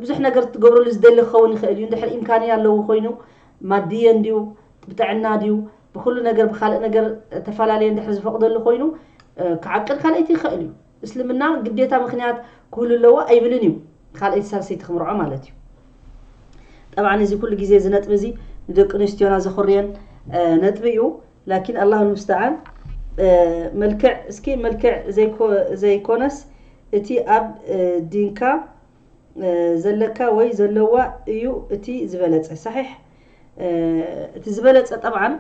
ብዙሕ ነገር ክትገብረሉ ዝደሊ ክኸውን ይኽእል እዩ እንድሕር ኢምካንያ ኣለዎ ኮይኑ ማድየን ድዩ ብጥዕና ድዩ ብኹሉ ነገር ብካልእ ነገር ተፈላለየ እንድሕር ዝፈቕደሉ ኮይኑ ክዓቅድ ካልኣይቲ ይኽእል እዩ እስልምና ግዴታ ምክንያት ክህሉ ኣለዎ ኣይብልን እዩ ካልኣይቲ ሳልሰይቲ ክምርዖ ማለት እዩ ጠብዓ እዚ ኩሉ ግዜ እዚ ነጥቢ እዚ ንደቂ ኣንስትዮና ዘኹርየን ነጥቢ እዩ ላኪን ኣላሁ ልሙስተዓን መልክዕ እስኪ መልክዕ ዘይኮነስ እቲ ኣብ ዲንካ ዘለካ ወይ ዘለዋ እዩ እቲ ዝበለጸ ሳሒሕ እቲ ዝበለጸ ጠብዓን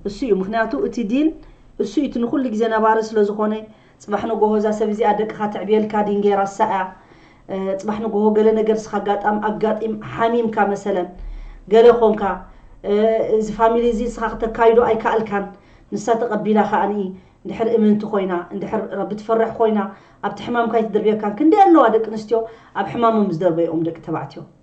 እሱ እዩ ምክንያቱ እቲ ዲን እሱ እዩ እቲ ንኩሉ ግዜ ነባሪ ስለዝኮነ ጽባሕ ንጎሆ እዛ ሰብ እዚኣ ደቅኻ ተዕብየልካ ዲንጌ ራሳ እያ ጽባሕ ንጎሆ ገለ ነገር ስኻ ኣጋጣም ኣጋጢም ሓሚምካ መሰለ ገለ ኮንካ እዚ ፋሚሊ እዚ ንስኻ ክተካይዶ ኣይካኣልካን ንሳ ተቀቢላ ካኣ እንድሕር እምንቲ ኮይና እንድሕር ረቢ ትፈርሕ ኮይና ኣብቲ ሕማምካ ኣይትድርብየካን ክንደይ ኣለዋ ደቂ ኣንስትዮ ኣብ ሕማሞም ዝደርበየኦም ደቂ ተባዕትዮ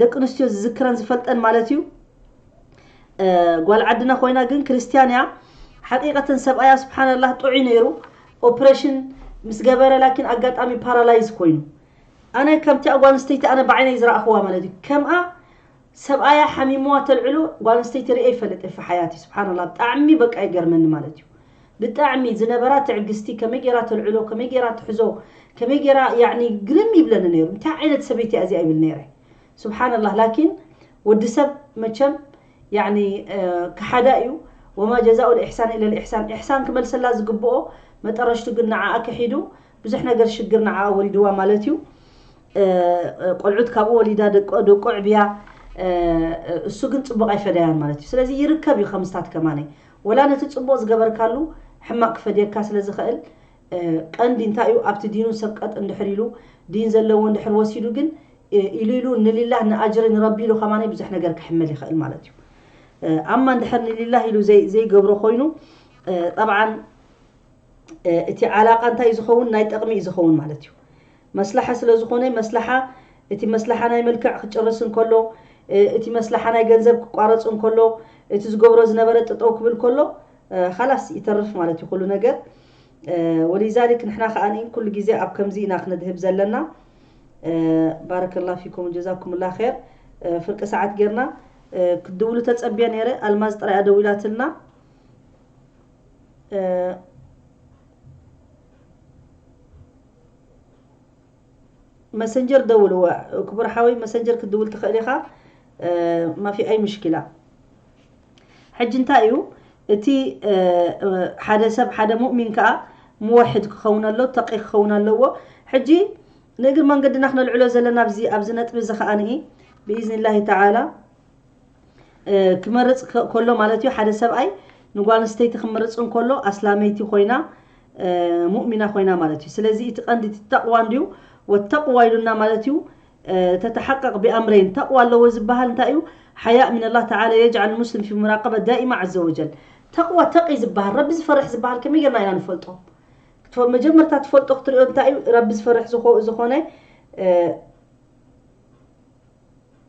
ደቂ ኣንስትዮ ዝዝክረን ዝፈልጠን ማለት እዩ ጓል ዓድና ኮይና ግን ክርስትያን እያ ሓቂቀተን ሰብኣያ ስብሓንላህ ጥዑይ ነይሩ ኦፕሬሽን ምስ ገበረ ላኪን ኣጋጣሚ ፓራላይዝ ኮይኑ ኣነ ከምቲኣ ጓል ኣንስተይቲ ኣነ ብዓይነይ ዝረእኽዋ ማለት እዩ ከምኣ ሰብኣያ ሓሚምዋ ተልዕሎ ጓል ኣንስተይቲ ርኤ ይፈልጥ እየ ሓያት እዩ ስብሓንላ ብጣዕሚ በቃ ይገርመኒ ማለት እዩ ብጣዕሚ ዝነበራ ትዕግስቲ ከመይ ጌራ ተልዕሎ ከመይ ጌራ ትሕዞ ከመይ ጌራ ያዕኒ ግርም ይብለኒ ነይሩ እንታይ ዓይነት ሰበይቲ እያ እዚኣ ይብል ነይረ ሱብሓነላህ ላኪን ወዲ ሰብ መቸም ያዕኒ ከሓዳ እዩ ወማ ጀዛኡ ልኢሕሳን ኢለ ልኢሕሳን ኢሕሳን ክመልሰላ ዝግብኦ መጠረሽቱ ግን ንዓኣ ክሒዱ ብዙሕ ነገር ሽግር ንዓኣ ወሪድዋ ማለት እዩ ቆልዑት ካብኡ ወሊዳ ደቆ ደቁ ኣዕብያ እሱ ግን ጽቡቕ ኣይፈደያን ማለት እዩ ስለዚ ይርከብ እዩ ከምስታት ከማነይ ወላ ነቲ ጽቡቅ ዝገበርካሉ ሕማቅ ክፈድየካ ስለ ዝኸእል ቀንዲ እንታይ እዩ ኣብቲ ዲኑ ሰብ ቀጥ እንድሕር ኢሉ ዲን ዘለዎ እንድሕር ወሲዱ ግን ኢሉ ኢሉ ንሊላህ ንኣጅሪ ንረቢ ኢሉ ከማን ብዙሕ ነገር ክሕመል ይኸእል ማለት እዩ ኣማ እንድሕር ንሊላህ ኢሉ ዘይገብሮ ኮይኑ ጠብዓን እቲ ዓላቃ እንታይ እዩ ዝኸውን ናይ ጠቅሚ እዩ ዝኸውን ማለት እዩ መስላሓ ስለ ዝኾነ መስላሓ እቲ መስላሓ ናይ መልክዕ ክጭርስ እንከሎ እቲ መስላሓ ናይ ገንዘብ ክቋረጽ እንከሎ እቲ ዝገብሮ ዝነበረ ጥጠው ክብል ከሎ ኻላስ ይተርፍ ማለት እዩ ኩሉ ነገር ወሊዛሊክ ንሕና ከኣ ኩሉ ግዜ ኣብ ከምዚ ኢና ክነድህብ ዘለና ባረከላ ፊኩም ጀዛኩምላ ኸር ፍርቂ ሰዓት ጌርና ክትድውሉ ተጸብየ ነይረ ኣልማዝ ጥራይ ኣደዊላትልና መሰንጀር ደውል እወ ክቡር ሓወይ መሰንጀር ክትድውል ትኽእል ኢኻ ማፊ ኣይ ምሽኪላ ሕጂ እንታይ እዩ እቲ ሓደ ሰብ ሓደ ሙእሚን ከዓ ምወሕድ ክኸውን ኣሎ ተቂ ክኸውን ኣለዎ ሕጂ ንእግር መንገድና ክነልዕሎ ዘለና ኣብዚ ነጥቢ እዚ ከዓኒ ብኢዝኒ ላሂ ተዓላ ክመርጽ ከሎ ማለት እዩ ሓደ ሰብኣይ ንጓል ኣንስተይቲ ክምርጽ እንከሎ ኣስላመይቲ ኮይና ሙእሚና ኮይና ማለት እዩ ስለዚ እቲ ቀንዲ እቲ ተቕዋ እንድዩ ወተቕዋ ኢሉና ማለት እዩ ተተሓቀቕ ብኣምረይን ተቕዋ ኣለዎ ዝበሃል እንታይ እዩ ሓያእ ምን ላ ተላ የጅዓል ሙስሊም ፊ ሙራቀበ ዳኢማ ዘ ወጀል ተቕዋ ተቒ ዝበሃል ረቢ ዝፈርሕ ዝበሃል ከመይ ጌርና ኢና ንፈልጦ መጀመርታ ትፈልጦ ክትሪኦ እንታይ እዩ ረቢ ዝፈርሕ ዝኾነ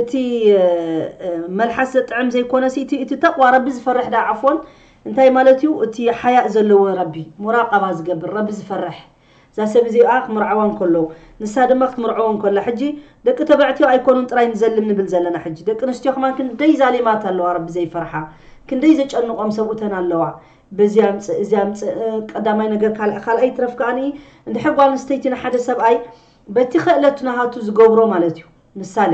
እቲ መልሓስ ዘጥዕም ዘይኮነ ሲ እቲ እቲ ተቕዋ ረቢ ዝፈርሕ ዳ ዓፎን እንታይ ማለት እዩ እቲ ሓያእ ዘለዎ ረቢ ሙራቀባ ዝገብር ረቢ ዝፈርሕ እዛ ሰብ እዚኣ ክምርዓዋ እንከሎ ንሳ ድማ ክትምርዓዎ እንከላ ሕጂ ደቂ ተባዕትዮ ኣይኮኑን ጥራይ ንዘልም ንብል ዘለና ሕጂ ደቂ ኣንስትዮ ከማን ክንደይ ዛሊማት ኣለዋ ረቢ ዘይፈርሓ ክንደይ ዘጨንቆም ሰብኡተን ኣለዋ በዚ ኣምፅእ እዚ ኣምፅእ ቀዳማይ ነገር ካልኣይ ትረፍ ከዓኒ እንድሕር ጓል ኣንስተይቲ ንሓደ ሰብኣይ በቲ ኸእለቱ ናሃቱ ዝገብሮ ማለት እዩ ምሳሌ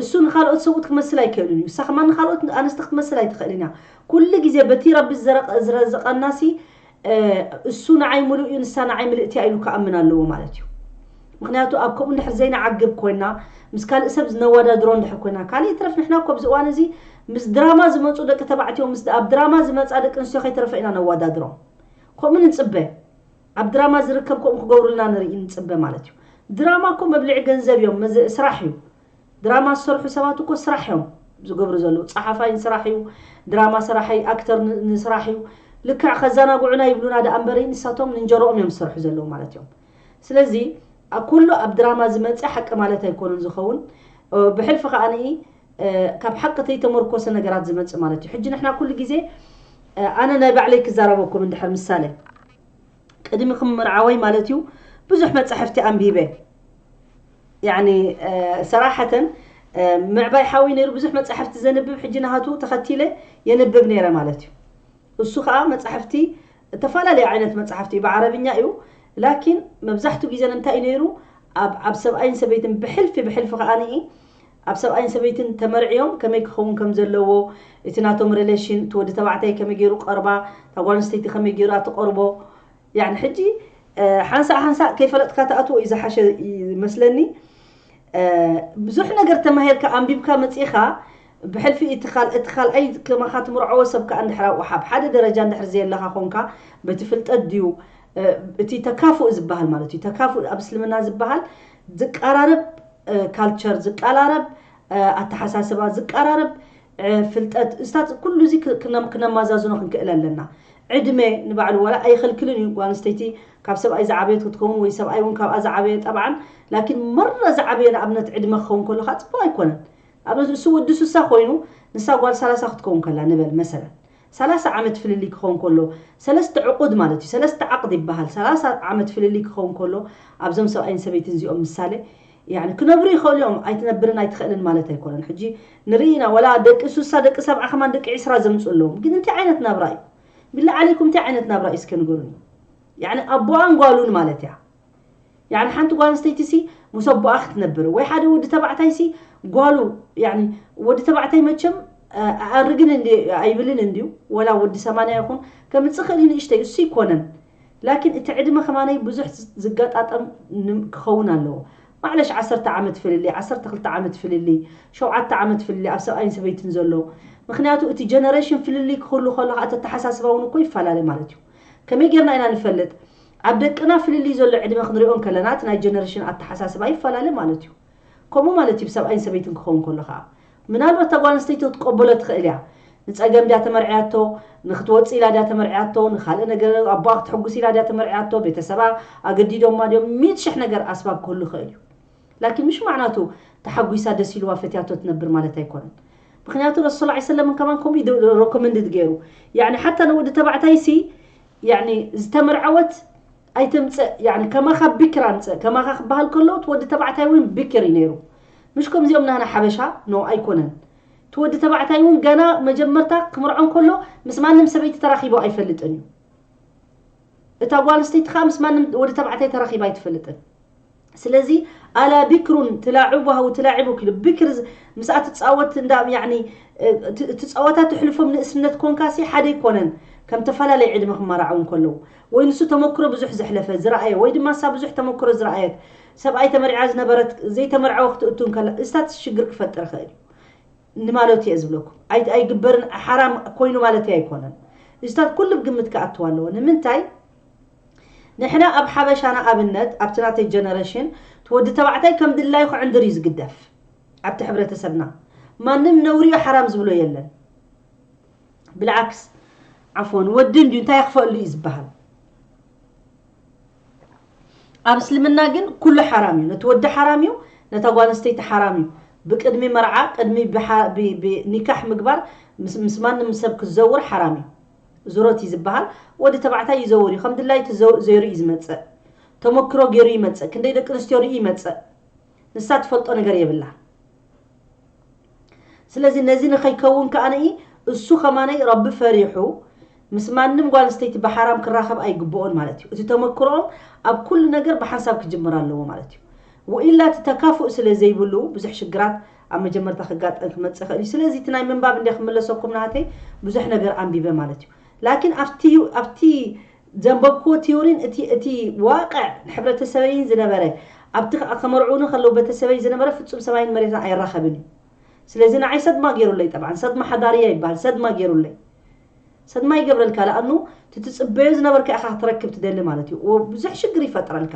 እሱ ንኻልኦት ሰብኡት ክመስል ኣይከእሉን እዩ እሳ ከማ ንኻልኦት ኣንስቲ ክትመስል ኣይትኸእልን እያ ኩሉ ጊዜ በቲ ረቢ ዝረዘቐናሲ እሱ ንዓይ ምሉእ እዩ ንሳ ንዓይ ምልእቲ እያ ኢሉ ክኣምን ኣለዎ ማለት እዩ ምክንያቱ ኣብ ከምኡ እንድሕር ዘይንዓግብ ኮይና ምስ ካልእ ሰብ ዝነወዳድሮ እንድሕር ኮይና ካልእ ይትረፍ ንሕና እኮ ኣብዚ እዋን እዚ ምስ ድራማ ዝመፁ ደቂ ተባዕትዮ ምስ ኣብ ድራማ ዝመፃ ደቂ ኣንስትዮ ከይተረፈ ኢና ነወዳድሮም ከምኡ ንፅበ ኣብ ድራማ ዝርከብ ከምኡ ክገብሩልና ንርኢ ንጽበ ማለት እዩ ድራማ እኮ መብልዒ ገንዘብ እዮም መዘ ስራሕ እዩ ድራማ ዝሰርሑ ሰባት እኮ ስራሕ እዮም ዝገብሩ ዘለዉ ጸሓፋይ ንስራሕ እዩ ድራማ ሰራሓይ ኣክተር ንስራሕ እዩ ልክዕ ከዘናግዑና ይብሉና ደኣ እምበሪ ንሳቶም ንእንጀሮኦም እዮም ዝሰርሑ ዘለዉ ማለት እዮም ስለዚ ኩሉ ኣብ ድራማ ዝመጽእ ሓቂ ማለት ኣይኮነን ዝኸውን ብሕልፊ ከዓንኢ ካብ ሓቂ ተይተመርኮሰ ነገራት ዝመጽእ ማለት እዩ ሕጂ ንሕና ኩሉ ግዜ ኣነ ናይ ባዕለይ ክዛረበኩም እንድሕር ምሳሌ ቅድሚ ክምርዓወይ ማለት እዩ ብዙሕ መጻሕፍቲ ኣንቢበ ያኒ ሰራሓተን ምዕባይ ሓዊ ነይሩ ብዙሕ መጻሕፍቲ ዘንብብ ሕጂ ናሃቱ ተኸቲለ የንብብ ነይረ ማለት እዩ እሱ ከዓ መጻሕፍቲ እተፈላለየ ዓይነት መጻሕፍቲ እዩ ብዓረብኛ እዩ ላኪን መብዛሕትኡ ግዜ ንምንታይ እዩ ነይሩ ኣብ ሰብኣይን ሰበይትን ብሕልፊ ብሕልፊ ከዓኒ ኣብ ሰብኣይን ሰበይትን ተመርዕዮም ከመይ ክኸውን ከም ዘለዎ እቲ ናቶም ረለሽን እቲ ወዲ ተባዕታይ ከመይ ጌሩ ቀርባ እታ ጓል ኣንስተይቲ ከመይ ጌራ ትቐርቦ ያኒ ሕጂ ሓንሳእ ሓንሳእ ከይፈለጥካ ትኣትዎ እዩ ዝሓሸ መስለኒ ብዙሕ ነገር ተማሂርካ ኣንቢብካ መጺኻ ብሕልፊ እቲ ካል እቲ ካልኣይ ከማኻ ትምርዓዎ ሰብ ከዓ እንድሕር ኣብኡ ሓብ ሓደ ደረጃ እንድሕር ዘየለኻ ኮንካ በቲ ፍልጠት ድዩ እቲ ተካፉእ ዝበሃል ማለት እዩ ተካፉእ ኣብ እስልምና ዝበሃል ዝቃራረብ ካልቸር ዝቃራረብ ኣተሓሳስባ ዝቃራረብ ፍልጠት እስታት ኩሉ እዚ ክነማዛዝኖ ክንክእል ኣለና ዕድመ ንባዕሉ ዋላ ኣይኸልክልን እዩ ጓል ኣንስተይቲ ካብ ሰብኣይ ዝዓበየት ክትከውን ወይ ሰብኣይ እውን ካብኣ ዝዓበየ ጠብዓን ላኪን መራ ዝዓበየ ንኣብነት ዕድመ ክኸውን ከለካ ፅቡቅ ኣይኮነን ንኣብነት ንሱ ወዲ ስሳ ኮይኑ ንሳ ጓል ሰላሳ ክትከውን ከላ ንበል መሰለን ሰላሳ ዓመት ፍልልይ ክኸውን ከሎ፣ ሰለስተ ዕቑድ ማለት እዩ፣ ሰለስተ ዓቕድ ይበሃል፣ ሰላሳ ዓመት ፍልልይ ክኸውን ከሎ፣ ኣብዞም ሰብኣይን ሰበይትን እዚኦም ምሳሌ፣ ያኒ ክነብሩ ይኸእሉ እዮም፣ ኣይትነብርን ኣይትኸእልን ማለት ኣይኮነን፣ ሕጂ ንርኢ ኢና ዋላ ደቂ ሱሳ ደቂ ሰብዓ ከማን ደቂ ዕስራ ዘምጽኡ ኣለዎም፣ ግን እንታይ ዓይነት ናብራ እዩ፣ ቢላህ ዓሌኩም እንታይ ዓይነት ናብራ እዩ እስከ ንገሩኒ፣ ያኒ ኣቦኣን ጓሉን ማለት እያ። ያኒ ሓንቲ ጓል ኣንስተይቲሲ ምስ ኣቦኣ ክትነብር ወይ ሓደ ወዲ ተባዕታይሲ ጓሉ ያኒ ወዲ ተባዕታይ መቸም ኣእርግን እንዲ ኣይብልን እንዲዩ ወላ ወዲ ሰማንያ ይኹን ከምጽእ ክእል እዩ ንእሽተይ እሱ ይኮነን ላኪን እቲ ዕድመ ከማነይ ብዙሕ ዝገጣጠም ክኸውን ኣለዎ ማዕለሽ ዓሰርተ ዓመት ፍልልይ ዓሰርተ ክልተ ዓመት ፍልልይ ሸውዓተ ዓመት ፍልልይ ኣብ ሰብኣይን ሰበይትን ዘሎ ምክንያቱ እቲ ጀነሬሽን ፍልልይ ክህሉ ከሎ ከዓ እቲ ኣተሓሳስባ እውን እኮ ይፈላለ ማለት እዩ ከመይ ጌርና ኢና ንፈልጥ ኣብ ደቅና ፍልልይ ዘሎ ዕድመ ክንሪኦ እንከለና እቲ ናይ ጀነረሽን ኣተሓሳስባ ይፈላለ ማለት እዩ። ከምኡ ማለት እዩ ብሰብኣይን ሰበይትን ክኸውን ከሎ ከኣ። ምናልባት እታ ጓል ኣንስተይቲ ክትቀበሎ ትኽእል እያ። ንጸገም ድያ ተመርዕያቶ፣ ንክትወጽእ ኢላ ድያ ተመርዕያቶ፣ ንካልእ ነገር ኣቦኣ ክተሕጉስ ኢላ ድያ ተመርዕያቶ፣ ቤተሰባ ኣገዲዶማ ድዮም፣ ሚእቲ ሽሕ ነገር ኣስባብ ክህሉ ይኽእል እዩ። ላኪን ምሽ ማዕናቱ ተሓጒሳ ደስ ኢልዋ ፈትያቶ ትነብር ማለት ኣይኮነን። ምኽንያቱ ረሱል ሰለላሁ ዓለይሂ ወሰለም ከማን ከምኡ እዩ ረኮመንድድ ገይሩ። ያዕኒ ሓታ ንወዲ ተባዕታይሲ ያኒ ዝተመርዐወት ኣይተምጽእ ያኒ ከማኻ ቢክር ኣምጽእ ከማኻ ክበሃል ከሎ እቲ ወዲ ተባዕታይ እውን ቢክር እዩ ነይሩ ምሽ ከምዚኦም ናህና ሓበሻ ኖ ኣይኮነን እቲ ወዲ ተባዕታይ እውን ገና መጀመርታ ክምርዖ ከሎ ምስ ማንም ሰበይቲ ተራኺቦ ኣይፈልጥን እዩ እታ ጓል ኣንስተይቲ ከዓ ምስ ማንም ወዲ ተባዕታይ ተራኺባ ኣይትፈልጥን ስለዚ ኣላ ቢክሩን ትላዕቡ ሃው ትላዕቡ ክሉ ብክር ምስኣ ትጻወት እንዳ ያኒ እቲ ጸወታ ትሕልፎም ንእስነት ኮንካሲ ሓደ ኣይኮነን ከም ተፈላለየ ዕድመ ክመራዓው እንከለዉ ወይ ንሱ ተመክሮ ብዙሕ ዘሕለፈ ዝረኣየ ወይ ድማ እሳ ብዙሕ ተመክሮ ዝረኣየት ሰብኣይ ተመሪዓ ዝነበረት ዘይተመርዓወ ክትእቱ እንከላ እዚታት ሽግር ክፈጥር ይኽእል እዩ ንማለቱ እየ ዝብለኩም ኣይግበርን ሓራም ኮይኑ ማለት ኣይኮነን እዚታት ኩሉ ግምት ክኣትዋ ኣለዎ ንምንታይ ንሕና ኣብ ሓበሻ ንኣብነት ኣብቲ ናተይ ጀነረሽን እቲ ወዲ ተባዕታይ ከም ድላዩ ክዕንድር እዩ ዝግደፍ ኣብቲ ሕብረተሰብና ማንም ነውሪ እዩ ሓራም ዝብሎ የለን ብልዓክስ ዓፍወን ወዲ እንድዩ እንታይ የኽፈኣሉ እዩ ዝበሃል ኣብ እስልምና ግን ኩሉ ሓራም እዩ ነቲ ወዲ ሓራም እዩ ነታ ጓል ኣንስተይቲ ሓራም እዩ ብቅድሚ መርዓ ቅድሚ ኒካሕ ምግባር ምስ ማንም ሰብ ክትዘውር ሓራም እዩ ዙሮት እዩ ዝብሃል ወዲ ተባዕታይ ይዘውር እዩ ከም ድላይቱ ዞይሩ እዩ ዝመጽእ ተሞክሮ ጌሩ ይመጽእ ክንደይ ደቂ ኣንስትዮ ሪኡ ይመጽእ ንሳ ትፈልጦ ነገር የብላ ስለዚ ነዚ ንኸይከውን ከኣ እሱ ከማነይ ረቢ ፈሪሑ ምስ ማንም ጓል ኣንስተይቲ ብሓራም ክራኸብ ኣይግብኦን ማለት እዩ እቲ ተመክሮኦም ኣብ ኩሉ ነገር ብሓንሳብ ክጅምር ኣለዎ ማለት እዩ ወኢላ እቲ ተካፉእ ስለ ዘይብሉ ብዙሕ ሽግራት ኣብ መጀመርታ ክጋጠም ክመጽእ ይክእል እዩ ስለዚ እቲ ናይ ምንባብ እንድየ ክምለሰኩም ናሃተይ ብዙሕ ነገር ኣንቢበ ማለት እዩ ላኪን ኣብቲ ኣብቲ ዘንበብክዎ ቲዮሪን እቲ እቲ ዋቅዕ ሕብረተሰበይን ዝነበረ ኣብቲ ከዓ ከመርዕዉኒ ከለዉ በተሰበይ ዝነበረ ፍጹም ሰማይን መሬትን ኣይራከብን እዩ ስለዚ ንዓይ ሰድማ ገይሩለይ ጠብዓን ሰድማ ሓዳርያ ይበሃል ሰድማ ገይሩለይ ሰድማ ይገብረልካ ለኣኑ እቲ ትጽበዮ ዝነበርካ ኢካ ክትረክብ ትደሊ ማለት እዩ ብዙሕ ሽግር ይፈጥረልካ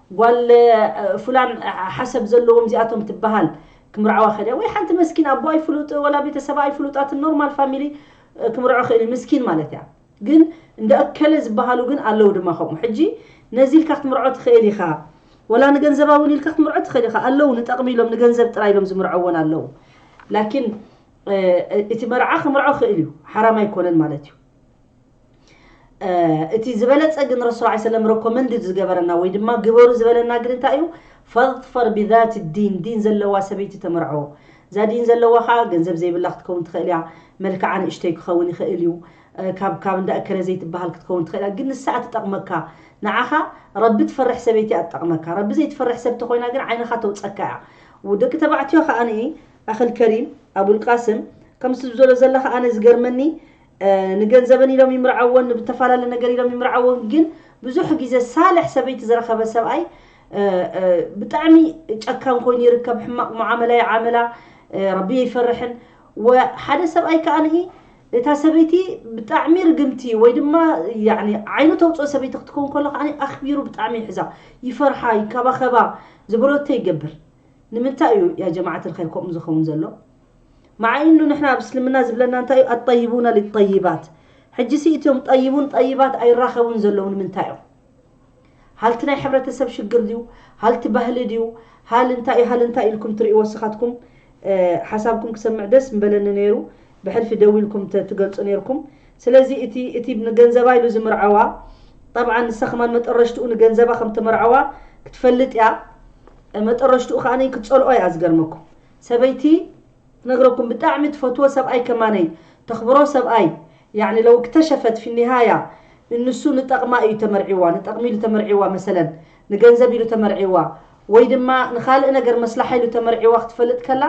ጓል ፉላን ሓሰብ ዘለዎም እዚኣቶም ትበሃል ክምርዓዋ ከድያ ወይ ሓንቲ መስኪን ኣቦ ኣይፍሉጥ ወላ ቤተሰባ ኣይፍሉጣትን ኖርማል ፋሚሊ ክምርዖ ክእል ምስኪን ማለት እያ ግን እንደ እከለ ዝበሃሉ ግን ኣለው ድማ ከምኡ ሕጂ ነዚ ኢልካ ክትምርዖ ትክእል ኢካ ወላ ንገንዘባ እውን ኢልካ ክትምርዖ ትክእል ኢካ ኣለው ንጠቅሚ ኢሎም ንገንዘብ ጥራይ ኢሎም ዝምርዖ እውን ኣለው ላኪን እቲ መርዓ ክምርዖ ክእል እዩ ሓራም ኣይኮነን ማለት እዩ እቲ ዝበለጸ ግን ረሱል ዓ ሰለም ረኮመንድ ዝገበረና ወይ ድማ ግበሩ ዝበለና ግን እንታይ እዩ ፈظፈር ብዛት ዲን ዲን ዘለዋ ሰበይቲ ተመርዖ እዛ ዲን ዘለዋ ከዓ ገንዘብ ዘይብላ ክትከውን ትኽእል እያ መልክዓ ንእሽተይ ክኸውን ይኽእል እዩ ካብ ካብ እንዳ እከለ ዘይትበሃል ክትከውን ትኽእል እያ ግን ንሳ እትጠቕመካ ንዓኻ ረቢ ትፈርሕ ሰበይቲ እያ ትጠቕመካ ረቢ ዘይትፈርሕ ሰብ ተኾይና ግን ዓይንኻ ተውፀካ እያ ወደቂ ተባዕትዮ ከዓኒ ኣኸል ከሪም ኣቡልቃስም ከምዚ ዝበሎ ዘለኻ ኣነ ዝገርመኒ ንገንዘበን ኢሎም ይምርዐወን ንብተፋላለ ነገር ኢሎም ይምርዐወን ግን ብዙሕ ግዜ ሳልሕ ሰበይቲ ዝረኸበ ሰብኣይ ብጣዕሚ ጨካን ኮይኑ ይርከብ ሕማቅ ሙዓመላ ይዓመላ ረቢ ይፈርሕን ሓደ ሰብኣይ ከዓ ንኢ እታ ሰበይቲ ብጣዕሚ ርግምቲ ወይ ድማ ዓይኑ ተውፅኦ ሰበይቲ ክትከውን ከሎ ከዓ ኣኽቢሩ ብጣዕሚ ይሕዛ ይፈርሓ ይከባኸባ ዝበሎቶ ይገብር ንምንታይ እዩ ያ ጀማዓት ልኸይር ከምኡ ዝኸውን ዘሎ ማዓ ኢኑ ንሕና ኣብ እስልምና ዝብለና እንታይ እዩ ኣጠይቡነ ሊጠይባት ሕጂሲ እትዮም ጠይቡን ጠይባት ኣይራከቡን ዘለዉ ንምንታይ እዮም ሃልቲ ናይ ሕብረተሰብ ሽግር ድዩ ሃልቲ ባህሊ ድዩ ሃል እንታይ እዩ ሃል እንታይ ኢልኩም ትሪኡ ወስካትኩም ሓሳብኩም ክሰምዕ ደስ ምበለኒ ነይሩ ብሕልፊ ደዊልኩም ትገልፁ ነይርኩም ስለዚ እቲ እቲ ንገንዘባ ኢሉ ዝምርዐዋ ጠብዓ ንሳ ከማን መጠረሽትኡ ንገንዘባ ከም ተመርዐዋ ክትፈልጥ እያ መጠረሽትኡ ከዓ ክትፀልኦ እያ ዝገርመኩም ሰበይቲ ክነግረኩም ብጣዕሚ ትፈትዎ ሰብኣይ ከማነይ ተኽብሮ ሰብኣይ ያዕኒ ለው እክተሸፈት ፊ ኒሃያ እንሱ ንጠቕማ እዩ ተመርዒዋ ንጠቕሚ ኢሉ ተመርዒዋ መሰለን ንገንዘብ ኢሉ ተመርዒዋ ወይ ድማ ንኻልእ ነገር መስላሓ ኢሉ ተመርዒዋ ክትፈልጥ ከላ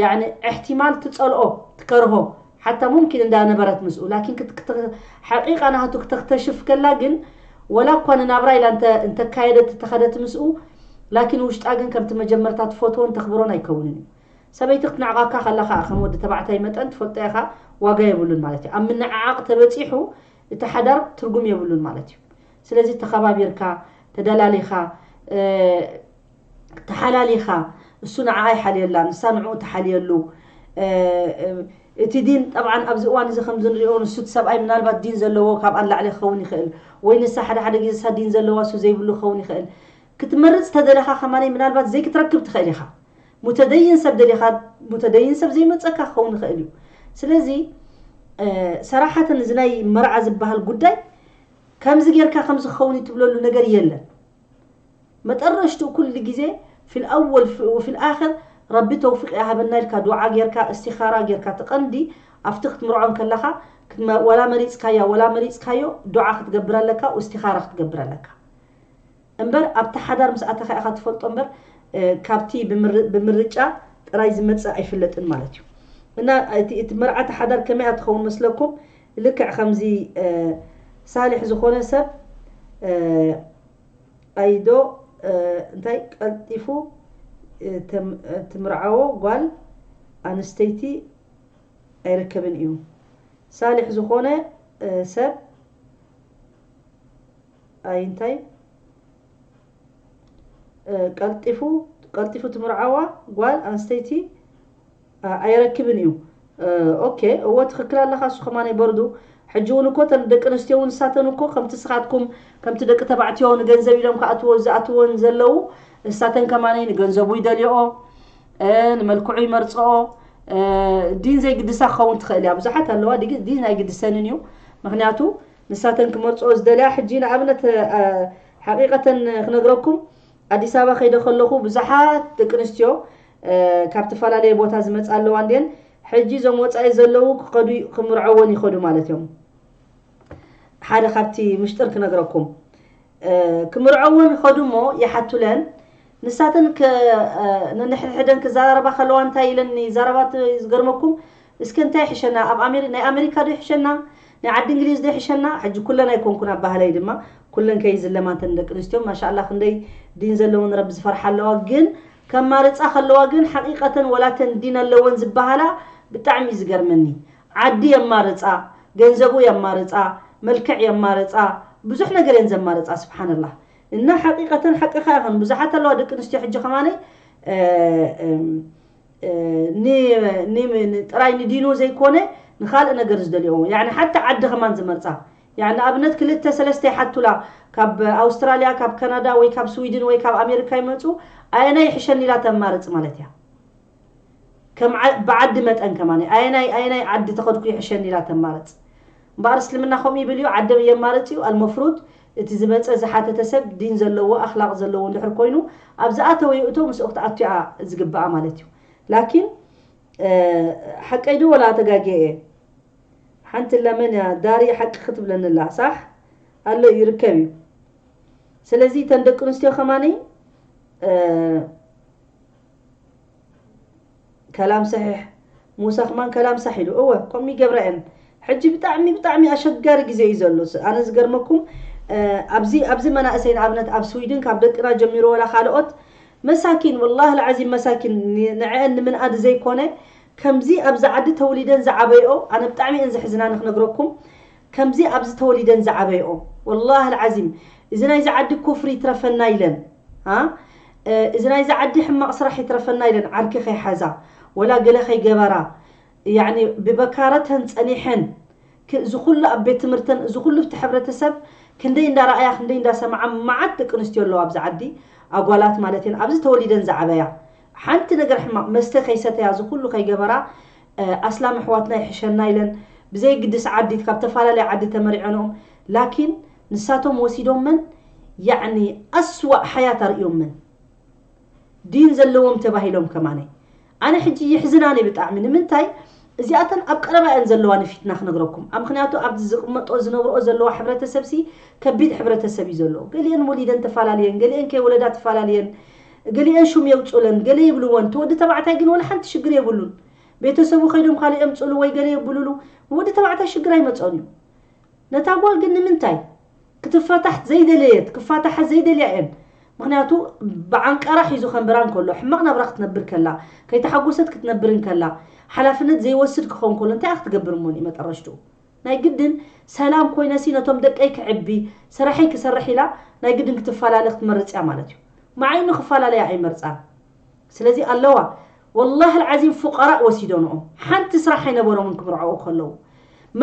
ያዕኒ እሕቲማል ትፀልኦ ትከርሆ ሓታ ሙምኪን እንዳ ነበረት ምስኡ ላኪን ክት ሓቂቃ ናቱ ክተክተሽፍ ከላ ግን ወላ እኳ ንናብራ ኢላ እንተ እንተካየደት እተኸደት ምስኡ ላኪን ውሽጣ ግን ከምቲ መጀመርታ ትፈትዎን ተኽብሮን ኣይከውንን እዩ ሰበይቲ ክትንዕቃካ ከላ ከኣ ከም ወዲ ተባዕታይ መጠን ትፈልጦ ኢኻ ዋጋ የብሉን ማለት እዩ ኣብ ምንዕዓቅ ተበጺሑ እቲ ሓዳር ትርጉም የብሉን ማለት እዩ ስለዚ ተኸባቢርካ ተደላሊኻ ተሓላሊኻ እሱ ንዓኣ ይሓልየላ ንሳ ንዕኡ ትሓልየሉ እቲ ዲን ጠብዓን ኣብዚ እዋን እዚ ከምዚ ንሪኦ ንሱ እቲ ሰብኣይ ምናልባት ዲን ዘለዎ ካብኣ ንላዕሊ ክኸውን ይኽእል ወይ ንሳ ሓደ ሓደ ግዜ ንሳ ዲን ዘለዋ እሱ ዘይብሉ ክኸውን ይኽእል ክትመርፅ ተደለኻ ከማነይ ምናልባት ዘይክትረክብ ትኽእል ኢኻ ሙተደይን ሰብ ደሊኻ ሙተደይን ሰብ ዘይመፀካ ክኸውን ይኽእል እዩ ስለዚ ሰራሓትን እዚ ናይ መርዓ ዝበሃል ጉዳይ ከምዚ ጌርካ ከምዚ ክኸውን እዩ ትብለሉ ነገር የለን መጠረሽትኡ ኩሉ ግዜ ፊል ኣወል ወፊል ኣኽር ረቢ ተውፊቅ ያሃበና ኢልካ ዱዓ ጌርካ እስቲኻራ ጌርካ እቲ ቀንዲ ኣፍቲ ክትምርዖ እንከለኻ ዋላ መሪጽካያ ወላ መሪጽካዮ ዱዓ ክትገብር ኣለካ ውስቲኻራ ክትገብር ኣለካ እምበር ኣብቲ ሓዳር ምስ ኣተኻ ኢኻ ትፈልጦ እምበር ካብቲ ብምርጫ ጥራይ ዝመጽእ ኣይፍለጥን ማለት እዩ እና እቲ መርዓቲ ሓዳር ከመይ ትኸውን መስለኩም ልክዕ ከምዚ ሳልሕ ዝኾነ ሰብ ኣይዶ እንታይ ቀልጢፉ ትምርዓዎ ጓል ኣንስተይቲ ኣይርከብን እዩ ሳልሕ ዝኾነ ሰብ ኣይ እንታይ ቀልጢፉ ቀልጢፉ ትምርዓዋ ጓል ኣንስተይቲ ኣየረክብን ኢዩ ኦኬ እወ ትክክል ኣለካ እሱ ከማነይ በርዱ ሕጂ ውን እኮ እተን ደቂ ኣንስትዮ ውን ንሳተን እኮ ከምቲ ንስካትኩም ከምቲ ደቂ ተባዕትዮ ንገንዘብ ኢሎም ክኣትዎ ዝኣትዎን ዘለው ንሳተን ከማነይ ንገንዘቡ ይደልዮኦ ንመልክዑ ይመርጽኦ ዲን ዘይግድሳ ክኸውን ትኽእል እያ ብዙሓት ኣለዋ ዲን ኣይግድሰንን እዩ ምክንያቱ ንሳተን ክመርፅኦ ዝደልያ ሕጂ ንኣብነት ሓቂቀተን ክነግረኩም ኣዲስ ኣበባ ከይደ ከለኹ ብዙሓት ደቂ ኣንስትዮ ካብ ትፈላለየ ቦታ ዝመጻ ኣለዋ እንድየን ሕጂ እዞም ወጻኢ ዘለዉ ክኸዱ ክምርዐወን ይኸዱ ማለት እዮም ሓደ ካብቲ ምሽጥር ክነግረኩም ክምርዐወን ኸዱ እሞ ይሓቱለን ንሳተን ንንሕድሕደን ክዘራረባ ከለዋ እንታይ ኢለን ይዛረባት ዝገርመኩም እስከ እንታይ ይሕሸና ኣብ ናይ ኣሜሪካ ዶ ይሕሸና ናይ ዓዲ እንግሊዝ ዶ ይሕሸና ሕጂ ኩለን ኣይኮንኩን ኣብ ባህለይ ድማ ኩለን ከይዝለማ እንተን ደቂ ኣንስትዮ ማሻላ ክንደይ ዲን ዘለወን ረቢ ዝፈርሓ ኣለዋ ግን ከማርጻ ከለዋ ግን ሓቂቀተን ወላ ተን ዲን ኣለወን ዝባሃላ ብጣዕሚ እዩ ዝገርመኒ ዓዲ የማርጻ ገንዘቡ የማርጻ መልክዕ የማርጻ ብዙሕ ነገር እየን ዘማርጻ ስብሓነላህ እና ሓቂቀተን ሓቅኻ ይኸን ብዙሓት ኣለዋ ደቂ ኣንስትዮ ሕጂ ከማነይ ጥራይ ንዲኑ ዘይኮነ ንካልእ ነገር ዝደልዮ ያዕኒ ሓታ ዓዲ ከማን ዝመርጻ ያዕ ንኣብነት ክልተ ሰለስተ ይሓቱላ ካብ ኣውስትራልያ ካብ ከናዳ ወይ ካብ ስዊድን ወይ ካብ ኣሜርካ ይመጹ ኣየናይ ይሕሸኒ ኢላ ተማርጽ ማለት እያ ከም ብዓዲ መጠን ከማን ኣየናይ ኣየናይ ዓዲ ተኸድኩ ይሕሸኒ ኢላ ተማርጽ እምበኣር እስልምና ከምኡ ይብል እዩ ዓደብ የማርጽ እዩ ኣልመፍሩድ እቲ ዝመጸ ዝሓተተ ሰብ ዲን ዘለዎ ኣኽላቕ ዘለዎ እንድሕር ኮይኑ ኣብ ዝኣተወ ይእቶ ምስኡ ክትኣቱ እያ ዝግብኣ ማለት እዩ ላኪን ሓቀይ ዶ ወላ ተጋግየ እየ ሓንትላ መን እያ ዳርየ ሓቂ ክትብለኒ ኣላ ሳሕ ኣሎ ይርከብ እዩ ስለዚ እተን ደቂ ኣንስትዮ ከማኒ ከላም ሰሒሕ ሙሳ ከማን ከላም ሳሕ ኢሉ እወ ከምኡ ይገብራ እየን ሕጂ ብጣዕሚ ብጣዕሚ ኣሸጋሪ ግዜ እዩ ዘሎ ኣነ ዝገርመኩም ኣብዚ ኣብዚ መናእሰይ ንኣብነት ኣብ ስዊድን ካብ ደቅና ጀሚሩ ወላ ካልኦት መሳኪን ወላሂ ልዓዚም መሳኪን ንዐአን ንምንኣድ ዘይኮነ ከምዚ ኣብዚ ዓዲ ተውሊደን ዝዓበይኦ ኣነ ብጣዕሚ እየን ዘሕዝናኒ ክነግረኩም ከምዚ ኣብዚ ተወሊደን ዝዓበይኦ ወላህ ኣልዓዚም እዚ ናይዚ ዓዲ ኩፍሪ ይትረፈና ኢለን ኣ እዚ ናይዚ ዓዲ ሕማቅ ስራሕ ይትረፈና ኢለን ዓርኪ ከይሓዛ ወላ ገለ ከይገበራ ያኒ ብበካረተን ጸኒሐን እዚ ኩሉ ኣብ ቤት ትምህርተን እዚ ኩሉ ብቲ ሕብረተሰብ ክንደይ እንዳረኣያ ክንደይ እንዳሰማዓ መዓት ደቂ ኣንስትዮ ኣለዋ ኣብዚ ዓዲ ኣጓላት ማለት እየን ኣብዚ ተወሊደን ዝዓበያ ሓንቲ ነገር ሕማቅ መስተ ከይሰተያ እዚ ኩሉ ከይገበራ ኣስላም ኣሕዋትና ይሕሸና ኢለን ብዘይ ግድስ ዓዲ ካብ ተፋላለየ ዓዲ ተመሪዐንኦም ላኪን ንሳቶም ወሲዶመን ያዕኒ ኣስዋእ ሓያት ኣርእዮመን ዲን ዘለዎም ተባሂሎም ከማነ ኣነ ሕጂ ይሕዝናኒ ብጣዕሚ ንምንታይ እዚኣተን ኣብ ቀረባ እየን ዘለዋ ንፊትና ክነግረኩም ኣብ ምክንያቱ ኣብዚ ዝቅመጦ ዝነብርኦ ዘለዋ ሕብረተሰብሲ ከቢድ ሕብረተሰብ እዩ ዘሎ ገሊኤን ወሊደን ተፋላልየን ገሊኤን ከይወለዳ ተፋላልየን ገሊኤን ሹም የውጹለን ገለ ይብልወን እቲ ወዲ ተባዕታይ ግን ወላ ሓንቲ ሽግር የብሉን ቤተሰቡ ከይዶም ካልእ የምጽእሉ ወይ ገለ የብሉሉ ንወዲ ተባዕታይ ሽግር ኣይመጽኦን እዩ ነታ ጓል ግን ንምንታይ ክትፋታሕ ዘይደለየት ክፋታሓ ዘይደልያ እየን ምክንያቱ ብዓንቀራ ሒዙ ከንብራ እንከሎ ሕማቅ ናብራ ክትነብር ከላ ከይተሓጎሰት ክትነብር እንከላ ሓላፍነት ዘይወስድ ክኸውን ከሎ እንታይ ክትገብር እሞ እዩ መጠረሽትኡ ናይ ግድን ሰላም ኮይነሲ ነቶም ደቀይ ክዕቢ ስራሐይ ክሰርሕ ኢላ ናይ ግድን ክትፈላለ ክትመርጽ እያ ማለት እዩ መዓይኑ ክፈላለያ ኣይመርጻን ስለዚ ኣለዋ ወላሂ ኣልዓዚም ፉቀራእ ወሲዶንኦም ሓንቲ ስራሕ ኣይነበሮምን ክምርዐዉ ከለዉ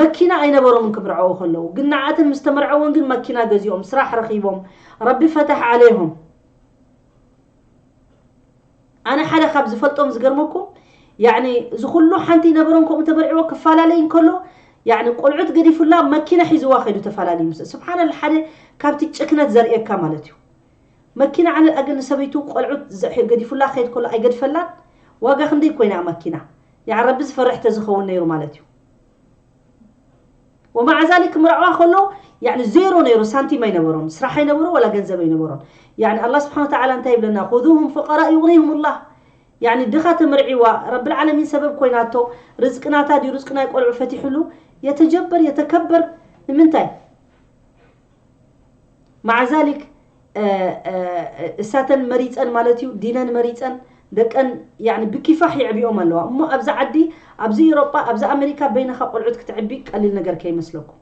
መኪና ኣይነበሮምን ክምርዐዉ ከለዉ ግን ንዓኣተን ምስ ተመርዐወን ግን መኪና ገዚኦም ስራሕ ረኺቦም ረቢ ፈታሕ ዓለይሆም ኣነ ሓደ ካብ ዝፈልጦም ዝገርመኩም ያዕኒ እዚ ኩሉ ሓንቲ ይነበሮም ከምኡ ተመርዒዎ ክፈላለይ እንከሎ ያዕኒ ቆልዑት ገዲፉላ መኪና ሒዝዋ ከይዱ ተፈላለዩ ምስ ስብሓንላ ሓደ ካብቲ ጭክነት ዘርእየካ ማለት እዩ መኪና ዓለ ኣገ ንሰበይቱ ቆልዑት ዘ ገዲፉላ ክከድ ከሎ ኣይገድፈላን ዋጋ ክንደይ ኮይና እያ ማኪና ያዓረቢ ዝፈርሕ ተዝከውን ነይሩ ማለት እዩ ወማዓዛሊ ክምርዐዋ ከለዉ ያኒ ዜሮ ነይሩ ሳንቲም ኣይነበሮን ስራሕ ኣይነበሮ ወላ ገንዘብ ኣይነበሮን ያኒ ኣላ ስብሓን ወተዓላ እንታይ ይብለና ኩዙሁም ፉቀራ ዩቕኒሁም ላህ ያኒ ድኻ ተምርዒዋ ረብልዓለሚን ሰበብ ኮይናቶ ርዝቂ ናታ ድዩ ርዝቂ ናይ ቆልዑ ፈቲሕሉ የተጀበር የተከበር ንምንታይ ማዕዛሊክ እሳተን መሪፀን ማለት እዩ ዲነን መሪፀን ደቀን ብኪፋሕ የዕቢኦም ኣለዋ እሞ ኣብዚ ዓዲ ኣብዚ ኤሮጳ ኣብዚ ኣሜሪካ በይንኻ ቆልዑት ክትዕቢ ቀሊል ነገር ከይመስለኩም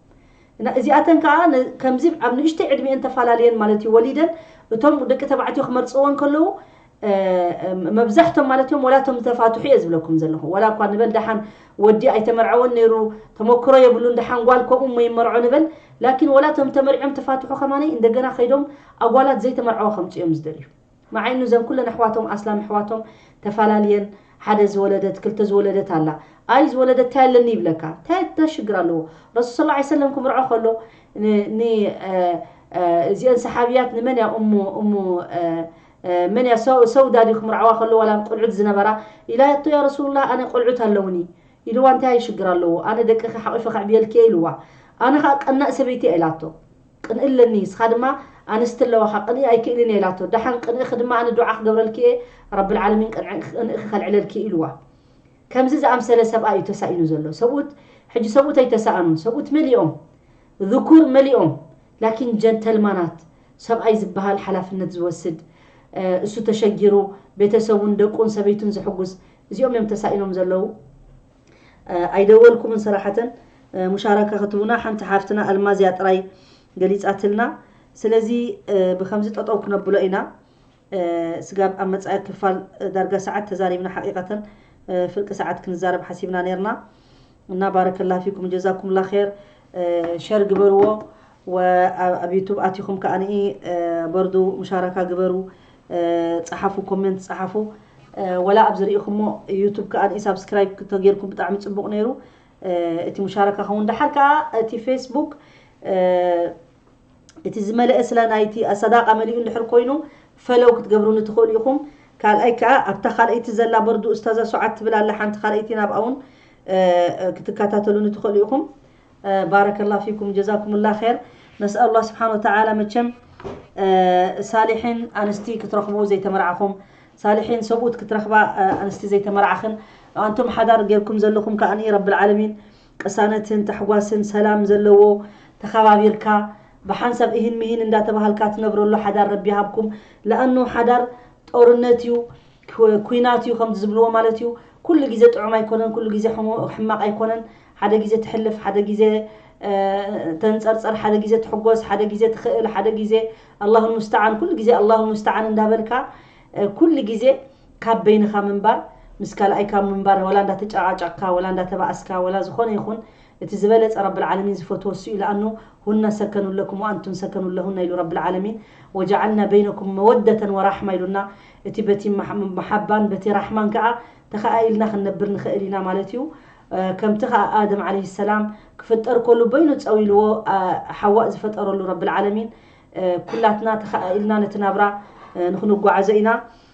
እና እዚኣተን ከዓ ከምዚ ኣብ ንእሽተይ ዕድሜኤን ተፈላለየን ማለት እዩ ወሊደን እቶም ደቂ ተባዕትዮ ክመርፅወን ከለዉ መብዛሕቶም ማለት እዮም ወላ እቶም ዝተፋትሑ እየ ዝብለኩም ዘለኹ ወላ እኳ ንበል ደሓን ወዲ ኣይተመርዐወን ነይሩ ተመክሮ የብሉን ደሓን ጓል ከምኡ እሞ ይመርዖ ንበል ላኪን ወላ እቶም ተመሪዖም ተፋትሑ ከማነይ እንደገና ከይዶም ኣጓላት ዘይተመርዐወ ከምፅ እዮም ዝደልዩ መዓይኑ ዘን ኩለን ኣሕዋቶም ኣስላም ኣሕዋቶም ተፈላለየን ሓደ ዝወለደት ክልተ ዝወለደት ኣላ ኣይ ዝወለደት እንታይ ኣለኒ ይብለካ እንታይ እንታይ ሽግር ኣለዎ ረሱል ስለ ላ ሰለም ክምርዖ ከሎ እዚአን ሰሓብያት ንመን እያ እሙ እሙ መን እያ ሰው ሰውዳ ድዩ ክምርዓዋ ከሎ ዋላ ቁልዑት ዝነበራ ኢላቶ ያ ረሱሉላህ ኣነ ቆልዑት ኣለውኒ ኢልዋ እንታይ ኣዩ ሽግር ኣለዎ ኣነ ደቅኺ ሓቂፈ ከዕብየልኪ እየ ኢልዋ ኣነ ከኣ ቀናእ ሰበይቲ እያ ኢላቶ ቅንኢ ኣለኒ ንስኻ ድማ ኣንስቲ ኣለዋኻ ቅንኢ ኣይክእልን እየ ኢላቶ ደሓን ቅንእኺ ድማ ኣነ ዱዓ ክገብረልኪ እየ ረብልዓለሚን ቅንእኺ ከልዕለልኪ ኢልዋ ከምዚ ዝኣምሰለ ሰብኣይ እዩ ተሳኢኑ ዘሎ ሰብኡት ሕጂ ሰብኡት ኣይተሳእኑን ሰብኡት መሊኦም ذኩር መሊኦም ላኪን ጀንተልማናት ሰብኣይ ዝብሃል ሓላፍነት ዝወስድ እሱ ተሸጊሩ ቤተሰቡን ደቁን ሰበይቱን ዘሕጉስ እዚኦም እዮም ተሳኢኖም ዘለዉ። ኣይደወልኩምን ሰራሓተ ሙሻረካ ክትቡና ሓንቲ ሓፍትና ኣልማዝ እያ ጥራይ ገሊጻትልና ስለዚ ብከምዚ ጠጠው ክነብሎ ኢና። ስጋብ ኣብ መጻኢ ክፋል ዳርጋ ሰዓት ተዛሪብና ሓቂቀተን ፍርቂ ሰዓት ክንዛረብ ሓሲብና ነርና እና ባረከላ ፊኩም ጀዛኩምላ ኬር ሸር ግበርዎ ኣብ ዩቱብ ኣቲኩም ከኣ በርዱ ሙሻራካ ግበሩ ጸሓፉ ኮሜንት ጸሓፉ ወላ ኣብዚ ርኢኩሞ ዩቱብ ከኣ ሳብስክራይብ ተጌርኩም ብጣዕሚ ጽቡቅ ነይሩ እቲ ሙሻራካ ከውን ደሓር ከኣ እቲ ፌስቡክ እቲ ዝመለኤ ስላ ናይቲ ኣሳዳቃ መሊኡ እንድሕር ኮይኑ ፈለው ክትገብሩኒ ትክእሉ ኢኩም ካልኣይ ክኣ ኣብታ ካልኣይቲ ዘላ በርዱ እስታዛ ሱዓድ ትብል ኣላ ሓንቲ ካልኣይቲ ናብኣ ውን ክትካታተሉኒ ትክእሉ ኢኩም ባረከላ ፊኩም ጀዛኩሙላ ኸር ነስኣሉላ ስብሓን ወተዓላ መቸም ሳሊሒን ኣንስቲ ክትረክቡ ዘይተመርዓኹም ሳሊሒን ሰብኡት ክትረክባ ኣንስቲ ዘይተመርዓኽን ኣንቱም ሓዳር ጌርኩም ዘለኹም ከኣ ረብልዓለሚን ቅሳነትን ታሕጓስን ሰላም ዘለዎ ተኻባቢርካ ብሓንሳብ እሂን ምሂን እንዳተባሃልካ ትነብረሉ ሓዳር ረቢ ይሃብኩም ለኣኑ ሓዳር ጦርነት እዩ ኩናት እዩ ከምዚ ዝብልዎ ማለት እዩ ኩሉ ግዜ ጥዑም ኣይኮነን ኩሉ ግዜ ሕማቕ ኣይኮነን ሓደ ግዜ ትሕልፍ ሓደ ግዜ ተንጸርጸር ሓደ ግዜ ትሕጎስ ሓደ ግዜ ትኽእል ሓደ ግዜ ኣላሁ ሙስተዓን ኩሉ ግዜ ኣላሁ ሙስተዓን እንዳበልካ ኩሉ ግዜ ካብ በይንኻ ምንባር ምስ ካልኣይካ ምንባር ወላ እንዳ ተጨቃጨቅካ ወላ እንዳ ተባኣስካ ወላ ዝኾነ ይኹን እቲ ዝበለጸ ረብ ልዓለሚን ዝፈትዎ እሱ እዩ ልኣኑ ሁነ ሰከኑ ለኩም ወኣንቱም ሰከኑ ለሁነ ኢሉ ረብ ልዓለሚን ወጀዓልና በይነኩም መወደተን ወራሕማ ኢሉና እቲ በቲ መሓባን በቲ ራሕማን ከኣ ተኸኣኢልና ክንነብር ንኸእል ኢና ማለት እዩ ከምቲ ከኣ ኣደም ዓለይሂ ሰላም ክፍጠር ከሉ በይኑ ጸው ኢልዎ ሓዋእ ዝፈጠረሉ ረብ ልዓለሚን ኩላትና ተኸኣኢልና ነቲ ናብራ ንኽንጓዓዞ ኢና